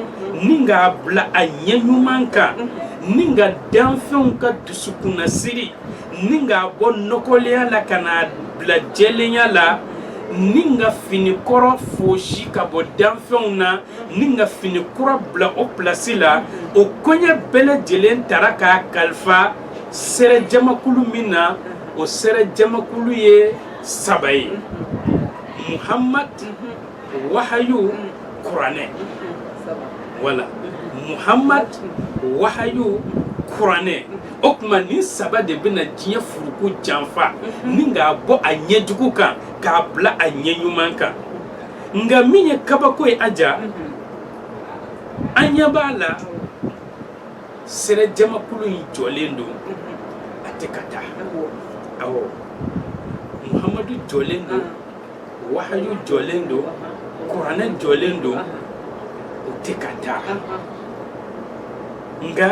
ni k'a bila a ɲɛ ɲuman kan ni ka danfɛnw ka dusukunnasiri ni k'a bɔ nɔgɔlenya la ka n'a bila jɛlenya la ni ka fini kɔrɔ foosi ka bɔ danfɛnw na ni ka fini kura bila o pilasi la o koɲɛ bɛɛ lajɛlen tara k'a kalifa sɛrɛ jamakulu min na o sɛrɛ jamakulu ye saba ye muhamadu wahayu kuranɛ wala muhamad wahayu kuranɛ o tuma nin saba de bɛna diɲɛ furuku janfa ni k'a bɔ a ɲɛ jugu kan k'a bila a ɲɛ ɲuman kan nka min ye kabako ye aja an ɲɛ b'a la sɛrɛ jamakulu in jɔlen don a tɛ ka taa awɔ muhamadu jɔlen don wahayu jɔlen don kuranɛ jɔlen don u tɛ ka taa nka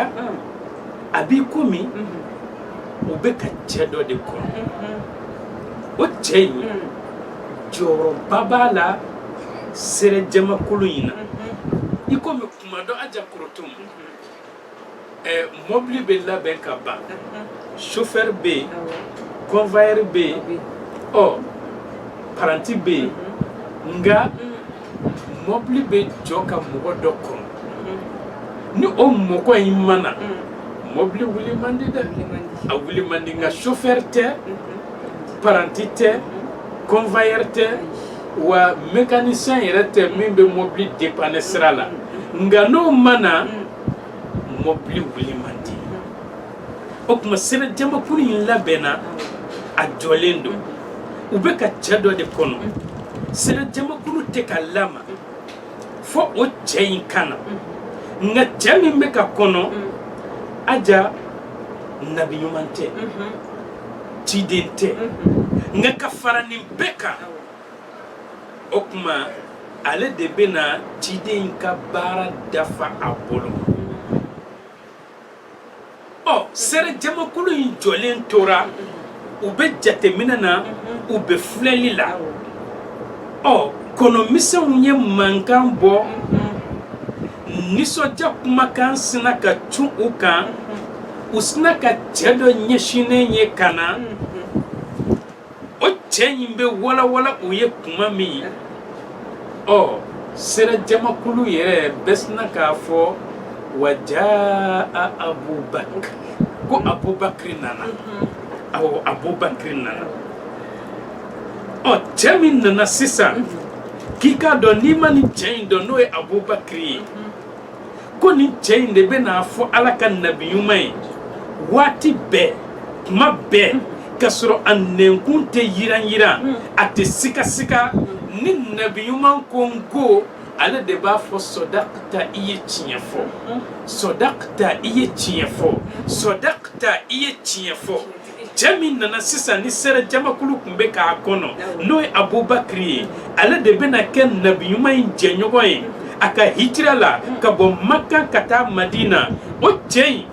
a b'i komi u bɛ ka cɛ dɔ de kɔnɔ o cɛ in jɔyɔrɔba b'a la sɛrɛ jamakulu in na i komi tuma dɔ aja korotum Ɛɛ mɔbili bɛ labɛn ka ban sofɛri bɛ yen convoyeur bɛ yen ɔ paranti bɛ yen nka mɔbili bɛ jɔ ka mɔgɔ dɔ kɔnɔ ni o mɔgɔ in ma na mɔbili wuli man di dɛ a wuli man di nka sofɛri tɛ paranti tɛ convoyeur tɛ. wa mécanicien yɛrɛ tɛ min bɛ mobili dépanner sira la nka n'o ma na mobili wuli man di o tuma sɛrɛ jamakulu in labɛnna a jɔlen don u bɛ ka cɛ dɔ de kɔnɔ sɛrɛ jamakulu tɛ ka lama fo o cɛ in ka na nka cɛ min bɛ ka kɔnɔ aja nabi ɲuman tɛ ciden tɛ nka ka fara nin bɛɛ kan o tuma ale de bɛ na ciden in ka baara dafa a bolo ɔ sɛrɛ jamakulu in jɔlen tora u bɛ jateminɛ na u bɛ filɛli la ɔ kɔnɔmisɛnw ye mankan bɔ nisɔndiya kumakan sinna ka cun u kan u sinna ka cɛ dɔ ɲɛsinnen ye ka na o cɛ in bɛ walawala u ye tuma min ɔ sɛrɛ jamakulu yɛrɛ bɛɛ sinna k'a fɔ wa jaa abubakiri ko abubakiri nana awɔ abubakiri nana ɔ cɛ min nana sisan k'i k'a dɔn n'i ma nin cɛ in dɔn n'o ye abubakiri ye ko nin cɛ in de bɛ n'a fɔ ala ka nabi ɲuman ye waati bɛɛ tuma bɛɛ ka sɔrɔ a nɛnkun tɛ yiran-yiran hmm. a tɛ sigasiga ni nabi ɲuman ko n ko ale de b'a fɔ sɔdakita i ye tiɲɛ fɔ hmm. sɔdakita i ye tiɲɛ fɔ sɔdakita i ye tiɲɛ fɔ cɛ min nana sisan ni sɛrɛ jamakulu tun bɛ k'a kɔnɔ n'o ye abubakiri ye ale de bɛna kɛ nabi ɲuman in jɛɲɔgɔn ye a ka hijira la ka bɔ maka ka taa madina o cɛ in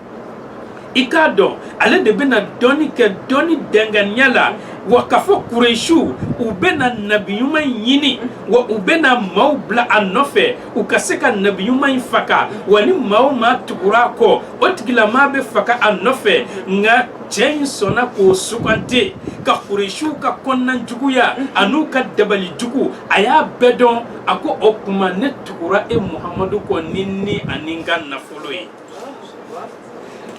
i k'a dɔn ale de bɛna dɔnni kɛ dɔnni danganiya la wa k'a fɔ kuresiw u bɛna nabi ɲuman in ɲini wa u bɛna maaw bila a nɔfɛ u ka se ka nabi ɲuman in faga wa ni maa o maa tugura a kɔ o tigilamaa bɛ faga a nɔfɛ nka cɛ in sɔnna k'o sugandi ka kuresiw ka kɔnɔna juguya an'u ka dabali jugu a y'a bɛɛ dɔn a ko o tuma ne tugura e muhamadu kɔ ni n ni ani n ka nafolo ye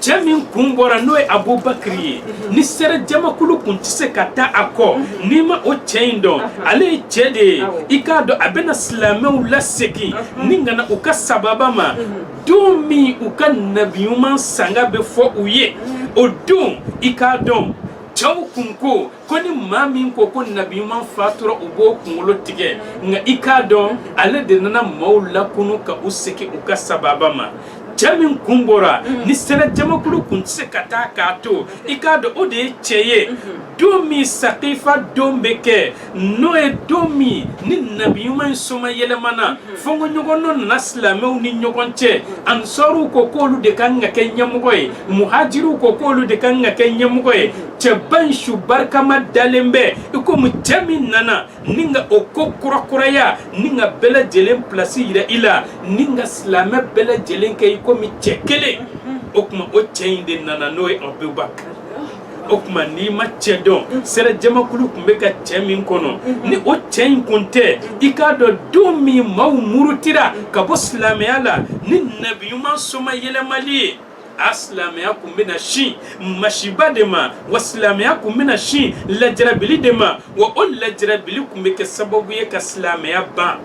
cɛ min kun bɔra n'o ye abubakiri ye ni sɛrɛ jamakulu kun tɛ se ka taa a kɔ n'i ma o cɛ in dɔn ale ye cɛ de ye i k'a dɔn a bɛna silamɛw lasegin ni ka na u ka sababa ma don min u ka nabi ɲuman sanga bɛ fɔ u ye o don i k'a dɔn cɛw kun ko ko ni maa min ko ko nabi ɲuman fatura u b'o kunkolo tigɛ nka i k'a dɔn ale de nana maaw lakunu ka u segin u ka sababa ma cɛ min kun bɔra mm. ni sɛrɛ jamakulu kun tɛ se ka taa k'a to i k'a dɔn o de ye cɛ ye mm-hmm. don min sakifa don bɛ kɛ n'o ye don min ni nabi ɲuman in soma yɛlɛmana fɔnkɔɲɔgɔnkɔ nana silamɛw ni ɲɔgɔn cɛ ansɔriw ko k'olu de kan ka kɛ ɲɛmɔgɔ ye muhajiriw ko k'olu de kan ka kɛ ɲɛmɔgɔ ye cɛba in su barikama dalen bɛ i komi cɛ min nana ni ka o ko kurakuraya ni ka bɛɛ lajɛlen pilasi yira i la ni ka silamɛ bɛɛ lajɛlen kɛ i komi cɛ kelen o tuma o cɛ in de nana n'o ye abubakar o tuma n'i ma cɛ dɔn sɛrɛ jamakulu tun bɛ ka cɛ min kɔnɔ ni o cɛ in kun tɛ i k'a dɔn don min maaw murutira ka bɔ silamɛya la ni nabi ɲuman soma yɛlɛmali ye a silamɛya tun bɛna sin masiba de ma wa silamɛya tun bɛna sin lajarabili de ma wa o lajarabili tun bɛ kɛ sababu ye ka silamɛya ban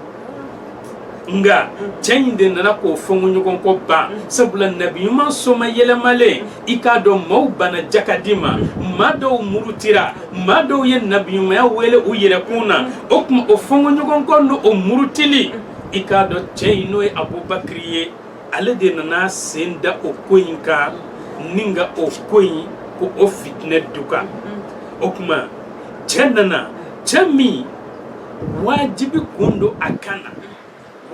nka cɛ in de nana k'o fɔnkɔɲɔgɔnkɔ ban sabula nabi ɲuman soma yɛlɛmalen i k'a dɔn maaw bana jakadi ma maa dɔw murutira maa dɔw ye nabiɲumanya wele u yɛrɛkun na o tuma o fɔnkɔɲɔgɔnkɔ ni o murutili i k'a dɔn cɛ in n'o ye abubakiri ye ale de nana a sen da o ko in kan ni ka o ko in ko o fitinɛ duga o tuma cɛ nana cɛ min wajibi kun don a ka na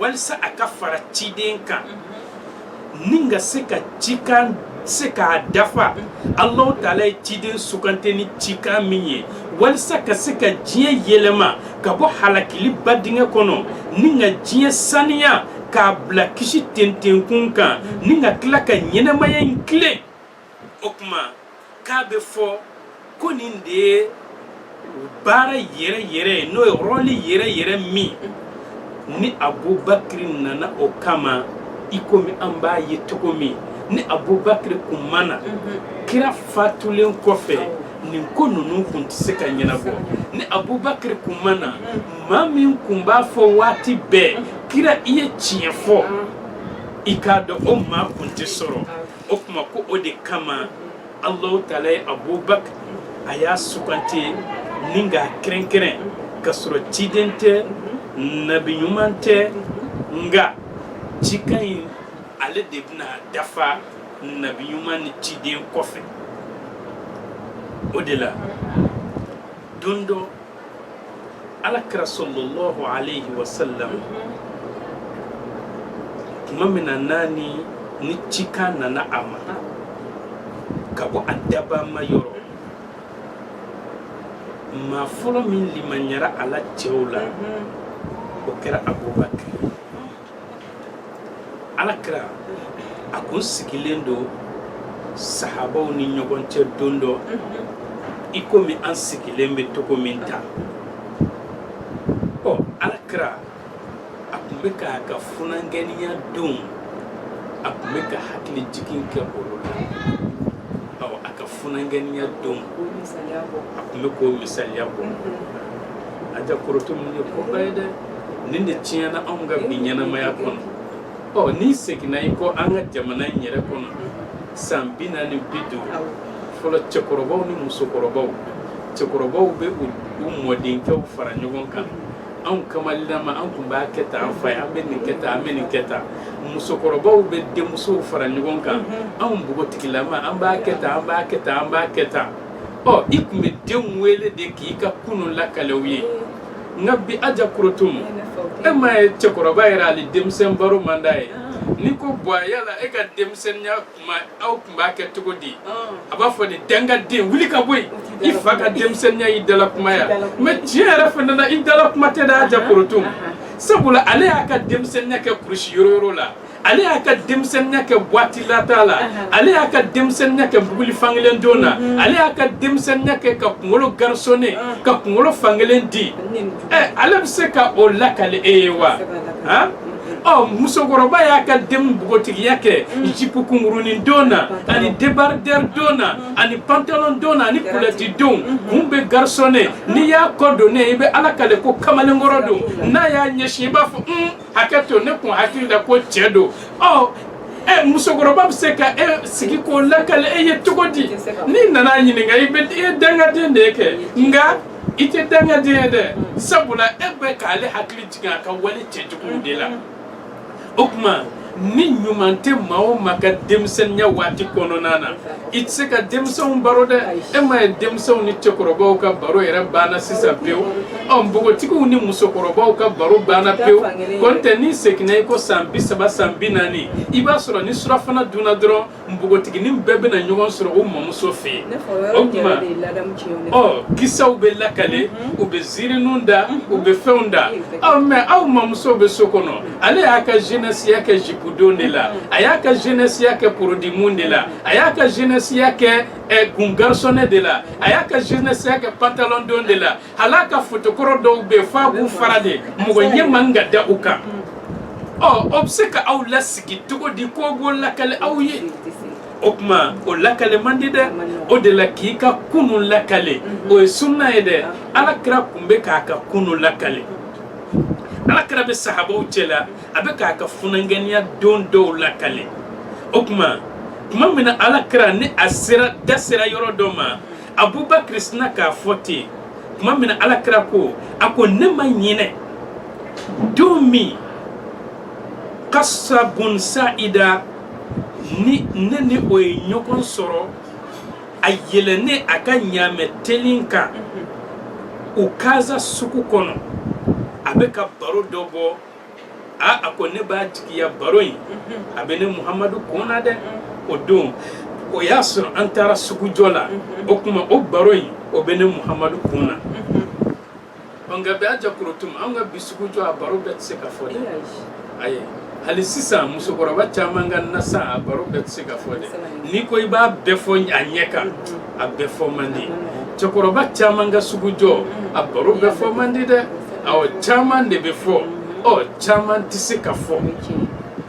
walisa a ka fara ciden kan ni ka se ka cikan se k'a dafa alahu taala ye ciden sugante ni cikan min ye walisa ka se ka diɲɛ yɛlɛma ka bɔ halakiliba dingɛ kɔnɔ ni ka diɲɛ saniya k'a bila kisi tentenkun kan ni ka tila ka ɲɛnamaya in tilen o tuma k'a bɛ fɔ ko nin de ye baara yɛrɛ yɛrɛ ye n'o ye rɔli yɛrɛ yɛrɛ min ni abubakiri nana o kama i komi an b'a ye cogo min ni abubakiri kun ma na kira fatulen kɔfɛ nin ko ninnu kun tɛ se ka ɲɛnabɔ ni abubakiri kun ma na maa min kun b'a fɔ waati bɛɛ kira i ye tiɲɛ fɔ i k'a dɔn o maa kun tɛ sɔrɔ o tuma ko o de kama alahu taala ye abubakar a y'a sugante ni k'a kɛrɛnkɛrɛn ka sɔrɔ ciden tɛ nabi ɲuman tɛ nka cikan in ale de bɛna dafa nabi ɲuman ni ciden kɔfɛ o de la don dɔ ala kira salalahu aleyhi wa sallam tuma min na n'a ni ni cikan nana a ma ka bɔ a dabaa ma yɔrɔ maa fɔlɔ min limaniyara a la cɛw la o kɛra abubakar ala kira a kun sigilen don sahabaw ni ɲɔgɔn cɛ don dɔ i komi an sigilen bɛ cogo min tan ɔ ala kira a kun bɛ k'a ka funankɛniya donw a kun bɛ ka hakili jigin kɛ olu la ɔ a ka funankɛniya donw a kun bɛ k'o misaliya bɔ aja korotumu nin ye koba ye dɛ nin de tiɲɛna anw ka bi ɲɛnamaya kɔnɔ ɔ n'i seginna i kɔ an ka jamana in yɛrɛ kɔnɔ san bi naani bi duuru fɔlɔ cɛkɔrɔbaw ni musokɔrɔbaw cɛkɔrɔbaw bɛ u mɔdenkɛw fara ɲɔgɔn kan anw kamalilama an tun b'a kɛ tan an fa ye an bɛ nin kɛ tan an bɛ nin kɛ tan musokɔrɔbaw bɛ denmusow fara ɲɔgɔn kan mm-hmm. anw npogotigilama an b'a kɛ tan an b'a kɛ tan an b'a kɛ tan ɔ i tun bɛ denw wele de k'i ka kunun lakale u ye mm-hmm. nka bi aja korotumu e ma ye cɛkɔrɔba yɛrɛ hali denmisɛn baro man d'a ye n'i ko buwa yala e ka denmisɛnninya kuma aw tun b'a kɛ cogo di a b'a fɔ de dangaden wuli ka bɔ yen i fa ka denmisɛnninya y'i dala kuma ye wa mɛ tiɲɛ yɛrɛ fana na i dala kuma tɛ dɛ aja korotumu sabula ale y'a ka denmisɛnninya kɛ kurusi yoroyoro la ale y'a ka denmisɛnninya kɛ buwati lataa la ale y'a ka denmisɛnninya kɛ bukili fankelen don na mhm. ale y'a ka denmisɛnninya kɛ ka kunkolo garisonne ah. ka kunkolo fankelen di ɛ eh, ale bɛ se ka o lakale e ye wa han ɔ oh, musokɔrɔba y'a ka den npogotigiya kɛ mm. jipu kunkurunin don na ani debardɛri don na mm. ani pantalon don na ani kulɔti don mm-hmm. kun bɛ garisonne n'i y'a kɔ don ne i bɛ ala kale ko kamalenkɔrɔ don n'a y'a ɲɛsin i b'a fɔ un hakɛ to ne kun hakili la ko cɛ don ɔ ɛ musokɔrɔba bɛ se ka e sigi k'o lakale e ye cogo di n'i nana a ɲininka i bɛ i ye dangaden de ye kɛ nka i tɛ dangaden ye dɛ sabula e bɛ k'ale hakili jigin a ka wale cɛjuguw de la o tuma ni ɲuman tɛ maa o maa ka denmisɛnninya waati kɔnɔna na i tɛ se ka denmisɛnw baro dɛ e ma ye denmisɛnw ni cɛkɔrɔbaw ka baro yɛrɛ banna sisan pewu ɔ npogotigiw ni musokɔrɔbaw ka baro banna pewu kɔntɛ n'i seginna i kɔ san bi saba san bi naani i b'a sɔrɔ ni surafana dunna dɔrɔn npogotiginin bɛɛ bɛna ɲɔgɔn sɔrɔ u mamuso fɛ yen o tuma ɔ kisaw bɛ lakale u bɛ ziirinun da u bɛ fɛnw da ɔ mɛ aw mamuso bɛ so kɔnɔ ale y'a ka jenɛsiya kɛ jipudon de la a y'a ka jenɛsiya kɛ porodimun de la a y'a ka jenɛsiya kɛ eh, kungarisɔnɛ de la a y'a ka jenɛsiya kɛ pantalɔndon de la hal'a ka fotokɔrɔ dɔw bɛ f'a b'u fara de mɔgɔ ɲɛ man ka da u kan ɔ o bɛ se ka aw lasigi cogo di k'o b'o lakali aw ye o tuma o lakale man di dɛ o de la k'i ka kunu lakale o ye sunna ye dɛ ala kira tun bɛ k'a ka kunu lakale ala kira bɛ sahabaw cɛ la a bɛ k'a ka funankɛniya don dɔw lakale o tuma tuma min na ala kira ni a sera da sera yɔrɔ dɔ ma abubakar sina k'a fɔ ten tuma min na ala kira ko a ko ne ma ɲinɛ don min kasa bun sa'ida ni ne ni o ye ɲɔgɔn sɔrɔ a yɛlɛnnen a ka ɲaamɛ telin kan ukaza sugu kɔnɔ a bɛ ka baro dɔ bɔ aa a ko ne b'a jigiya baro in a bɛ ne muhamadu kun na dɛ o don o y'a sɔrɔ an taara sugujɔ la o tuma o baro in o bɛ ne muhamadu kun na Nka bɛ y'a jate an ka bi sugu jɔ a baro bɛɛ tɛ se ka fɔ dɛ a ye hali sisan musokɔrɔba caman ka nasan a baro bɛɛ tɛ se ka fɔ dɛ n'i ko i b'a bɛɛ fɔ a ɲɛ kan a bɛɛ fɔ man di cɛkɔrɔba caman ka sugu jɔ a baro bɛɛ fɔ man di dɛ caman de bɛ fɔ ɔ caman tɛ se ka fɔ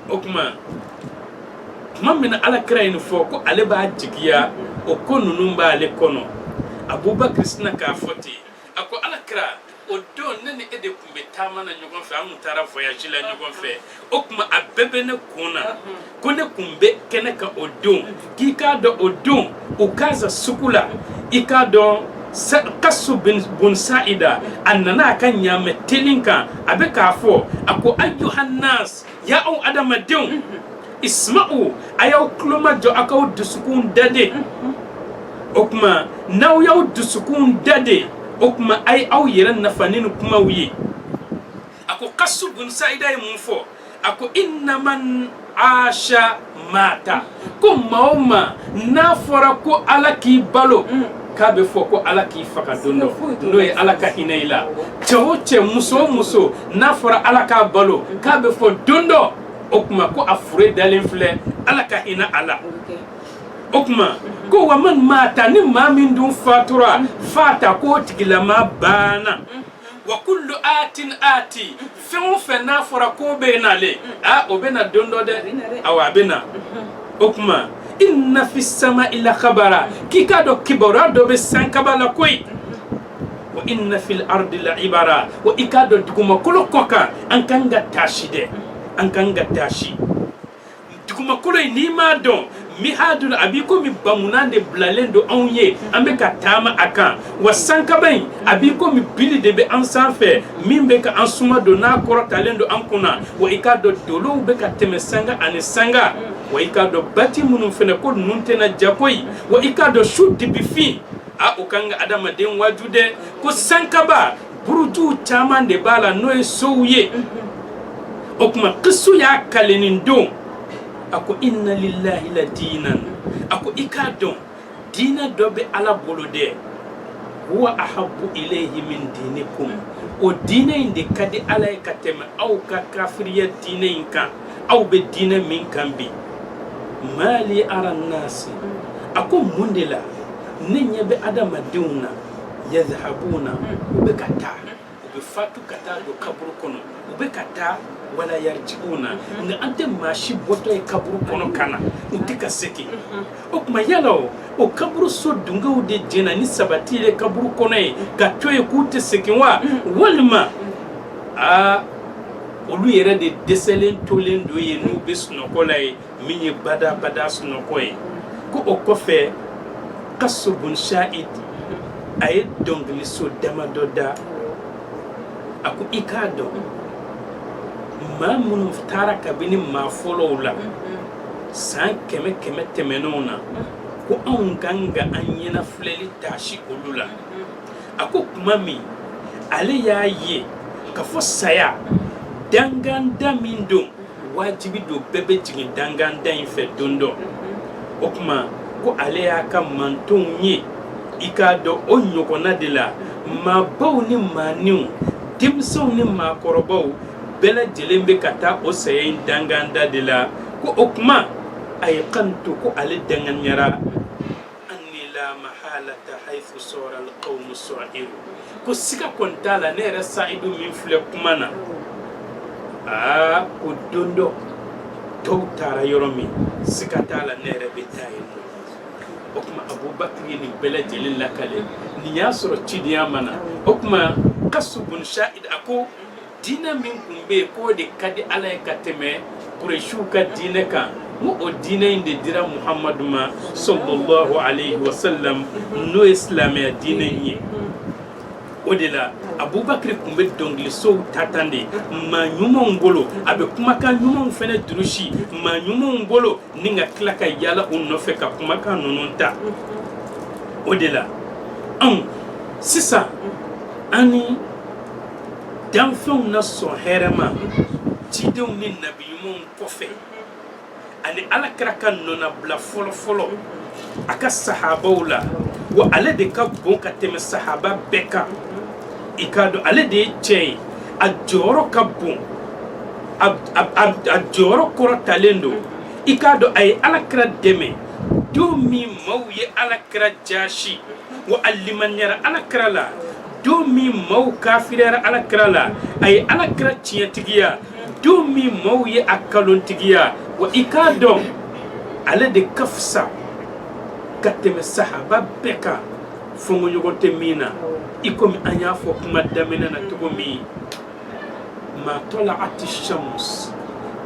o tuma tuma min ala kira nin fɔ ko ale b'a jigiya o ko ninnu b'ale kɔnɔ abubakar sina k'a fɔ ten yen a ko ala kira o don ne ni e de tun bɛ taama na ɲɔgɔn fɛ an tun taara voyage la ɲɔgɔn fɛ o tuma a bɛɛ bɛ ne kun na ko ne tun bɛ kɛnɛ kan o don k'i k'a dɔn o don ukaza sugu la i k'a dɔn kasu bun sa'ida a nana a ka ɲaamɛ telin kan a bɛ k'a fɔ a ko ayyuhan nas Ya aw adamadenw isma'u a y'aw tulomajɔ aw k'aw dusukun dayɛlɛn o tuma n'aw y'aw dusukun dayɛlɛn o tuma a ye aw yɛrɛ nafa ni kumaw ye a ko kasu bun sa'ida ye mun fɔ a ko inna man asa Maata ko maa o maa n'a fɔra ko ala k'i balo mm. k'a bɛ fɔ ko ala k'i faga don dɔ n'o ye ala ka hinɛ i la cɛ o cɛ muso muso n'a fɔra ala k'a balo mm. k'a bɛ fɔ don dɔ o tuma ko a fure dalen filɛ ala ka hinɛ a la o tuma mm-hmm. ko wa man maata ni maa min dun fatura mm. faata k'o tigilama banna mm-hmm. wa kullu atin ati fɛn o fɛn n'a fɔra k'o bɛ na de a o bɛ na don dɔ dɛ awa a bɛ na o tuma inna fis sama'i la kabara k'i k'a dɔn kibaruya dɔ bɛ san kaba la koyi wa inna fil ardi la ibara wa i k'a dɔn dugumakolo kɔ kan an kan ka taasi dɛ an kan ka taasi dugumakolo in n'i m'a dɔn mihadun a b'i komi bamunan de bilalen don anw ye an bɛ ka taama a kan wa sankaba in a b'i komi bili de bɛ an sanfɛ min bɛ ka an suma don n'a kɔrɔtalen don an kunna wa i k'a dɔn dolow bɛ ka tɛmɛ sanga ani sanga wa i k'a dɔn baji minnu fɛnɛ ko ninnu tɛna ja koyi wa i k'a dɔn su dibifin a o kan ka adamaden waaju dɛ ko sankaba burujuw caman de b'a la n'o ye sow ye o tuma kisu y'a kali nin don a ko inna lillahi la diinan a ko i k'a dɔn diinɛ dɔ bɛ ala bolo dɛ huwa ahabbu ilayhi min dinikum o diinɛ in de ka di ala ye ka tɛmɛ aw ka kafiriya diinɛ in kan aw bɛ diinɛ min kan bi mali ara nasi a ko mun de la ne ɲɛ bɛ adamadenw na yadhabuna hmm. u bɛ ka taa u bɛ fatu ka taa don kaburu kɔnɔ u bɛ ka taa wala yarji'una hmm. nka an tɛ maa si bɔtɔ ye kaburu kɔnɔ ka na u tɛ ka segin hmm. o tuma yala o o kaburu so dunkew de jɛnna ni sabati ye kaburu kɔnɔ yen ka to yen k'u tɛ segin wa walima aa olu yɛrɛ de dɛsɛlen tolen don yen n'u bɛ sunɔgɔ la yen min ye badabada sunɔgɔ ye ko o kɔfɛ kasu bun sa'id a ye dɔnkiliso damadɔ da a ko i k'a dɔn maa minnu taara kabini maa fɔlɔw la san kɛmɛ kɛmɛ tɛmɛnenw na ko anw ka kan ka an ɲɛnafilɛli taasi olu la a ko tuma min ale y'a ye k'a fɔ saya danganda min don wajibi don bɛɛ bɛ jigin danganda in fɛ don dɔ o tuma ko ale y'a ka mantonw ye i k'a dɔn o ɲɔgɔnna de la maabaw ni maaninw denmisɛnw ni maakɔrɔbaw bɛɛ lajɛlen bɛ ka taa o saya in danganda de la ko o tuma a ye kan to ko ale danganiyara anni la mahalata haythu sora alqawmu sa'iru ko sika kɔni t'a la ne yɛrɛ sa'idu min filɛ kuma na a ko don dɔ tɔw taara yɔrɔ min sika t'a la ne yɛrɛ bɛ taa yen nɔ o tuma abubakar ye nin bɛɛ lajɛlen lakale nin y'a sɔrɔ cidenya ma na o tuma kasu bun sa'id a ko diinɛ min tun bɛ yen k'o de ka di ala ye ka tɛmɛ kuresiw ka diinɛ kan n ko o diinɛ in de dira muhamadu ma sallallahu alayhi wa sallam n'o ye silamɛya diinɛ in ye o de la abubakari tun bɛ dɔnkilisow ta tan de maa ɲumanw bolo a bɛ kumakan ɲumanw fana durusi maa ɲumanw bolo ni ka tila ka yala u nɔfɛ ka kumakan ninnu ta o de la anw sisan an ni danfɛnw na sɔn hɛrɛma cidenw ni nabi ɲumanw kɔfɛ ani ala kira ka nɔnabila fɔlɔfɔlɔ a ka sahabaw la wa ale de ka bon ka tɛmɛ sahaba bɛɛ kan i k'a dɔn ale de ye cɛ ye a jɔyɔrɔ ka bon a jɔyɔrɔ kɔrɔtalen don i k'a dɔn a ye ala kira dɛmɛ don min maaw ye ala kira jasi wa a limaniyara ala kira la don min maaw kafiriyara alakira la a ye alakira tiɲɛtigiya don min maaw ye a kalontigiya wa i k'a dɔn ale de ka fisa ka tɛmɛ sahaba bɛɛ kan fɔnkɔɲɔgɔn tɛ min na i komi an y'a fɔ kuma daminɛ na cogo min maa tala'ati shamsu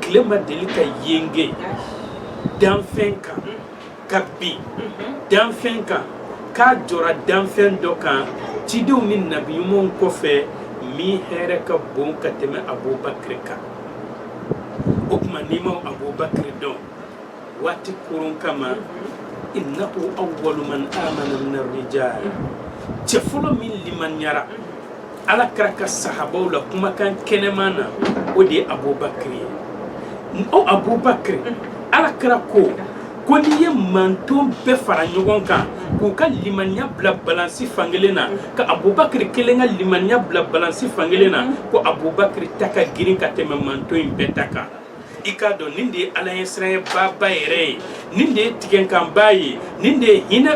tile ma deli ka yenge danfɛn kan ka bin danfɛn kan k'a jɔra danfɛn dɔ kan cidenw ni nabi ɲumanw kɔfɛ min hɛrɛ ka bon ka tɛmɛ abubakiri kan o tuma n'i ma abubakiri dɔn waati kɔrɔn kama innahu awwalu man amana min arrijal cɛ fɔlɔ min limaniyara ala kira ka sahabaw la kumakan kɛnɛman na o de ye abubakiri ye o abubakiri ala kira ko ko n'i ye manton bɛɛ fara ɲɔgɔn kan k'u ka limaniya bila balansi fan kelen na ka abubakiri kelen ka limaniya bila balansi fan kelen na ko abubakiri ta ka girin ka tɛmɛ manton in bɛɛ ta kan i k'a dɔn nin de ye alaɲɛsiranyɛbaaba yɛrɛ ye nin de ye tigɛnkanba ye nin de ye hinɛ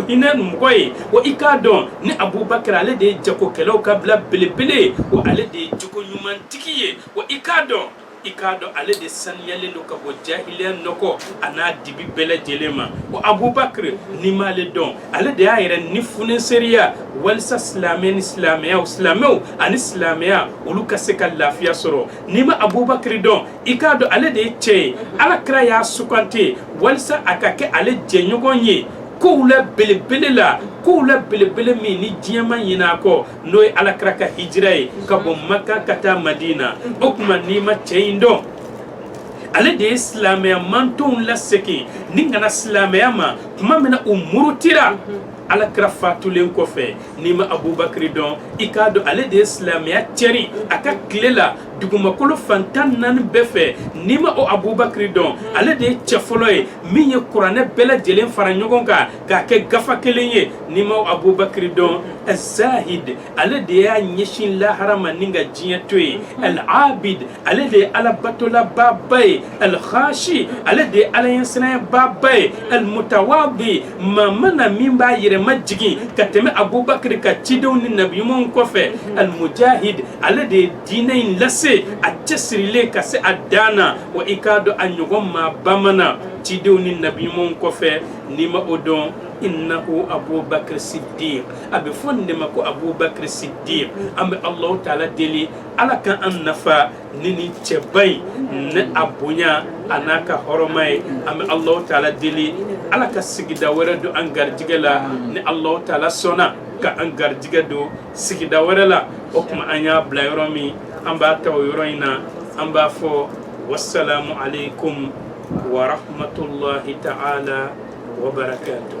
hinɛ mɔgɔ ye wa i k'a dɔn nin abubakiri ale de ye jagokɛlaw ka bila belebele ye wa ale de ye jogo ɲumantigi ye wa i k'a dɔn i k'a dɔn ale de saniyalen don ka bɔ jahiliya nɔgɔ a n'a dibi bɛɛ lajɛlen ma wa abubakar n'i m'ale dɔn ale de y'a yɛrɛ ni funeseriya walisa silamɛ ni silamɛya silamɛw ani silamɛya olu ka se ka lafiya sɔrɔ n'i ma abubakiri dɔn i k'a dɔn ale de ye cɛ ye ala kira y'a sugandi walisa a ka kɛ ale jɛɲɔgɔn ye kow la belebele la kow la belebele min ni diɲɛ ma ɲinɛ a kɔ n'o ye ala kira ka hijira ye ka bɔ maka ka taa madina o tuma n'i ma cɛ in dɔn ale de ye silamɛya mantonw lasegin ni ka na silamɛya ma tuma min na u murutira ala kira fatulen kɔfɛ n'i ma abubakari dɔn i k'a dɔn ale de ye silamɛya cɛri a ka tile la dugumakolo fan tan naani bɛɛ fɛ n'i ma o abubakari dɔn ale de ye cɛ fɔlɔ ye min ye kuranɛ bɛɛ lajɛlen fara ɲɔgɔn kan k'a kɛ gafa kelen ye n'i ma o abubakari dɔn azzahid ale de y'a ɲɛsin lahara ma ni ka diɲɛ to ye al abid ale de ye alabatolabaaba ye al khashi ale de ye alaɲɛsiranyɛbaaba ye al mutawadi maa ma na min b'a yɛrɛ majigin ka tɛmɛ abubakiri kan cidenw ni nabiɲumanw kɔfɛ almujahid ale de ye diinɛ in lase a cɛsirilen ka se a dan na wa i k'a dɔn a ɲɔgɔn maaba ma na cidenw ni nabiɲumanw kɔfɛ n'i ma o dɔn innahu abubakar siddiq a bɛ fɔ nin de ma ko abubakar siddiq an bɛ allahu taala deli ala ka an nafa ni nin cɛba in ni a bonya a n'a ka hɔrɔma ye an bɛ alahu taala deli ala ka sigida wɛrɛ don an garijɛgɛ la ni alahu taala sɔnna ka an garijɛgɛ don sigida wɛrɛ la o tuma an y'a bila yɔrɔ min an b'a ta o yɔrɔ in na an b'a fɔ wasalamu aleykum wa rahmatulahi taala wa barakatuh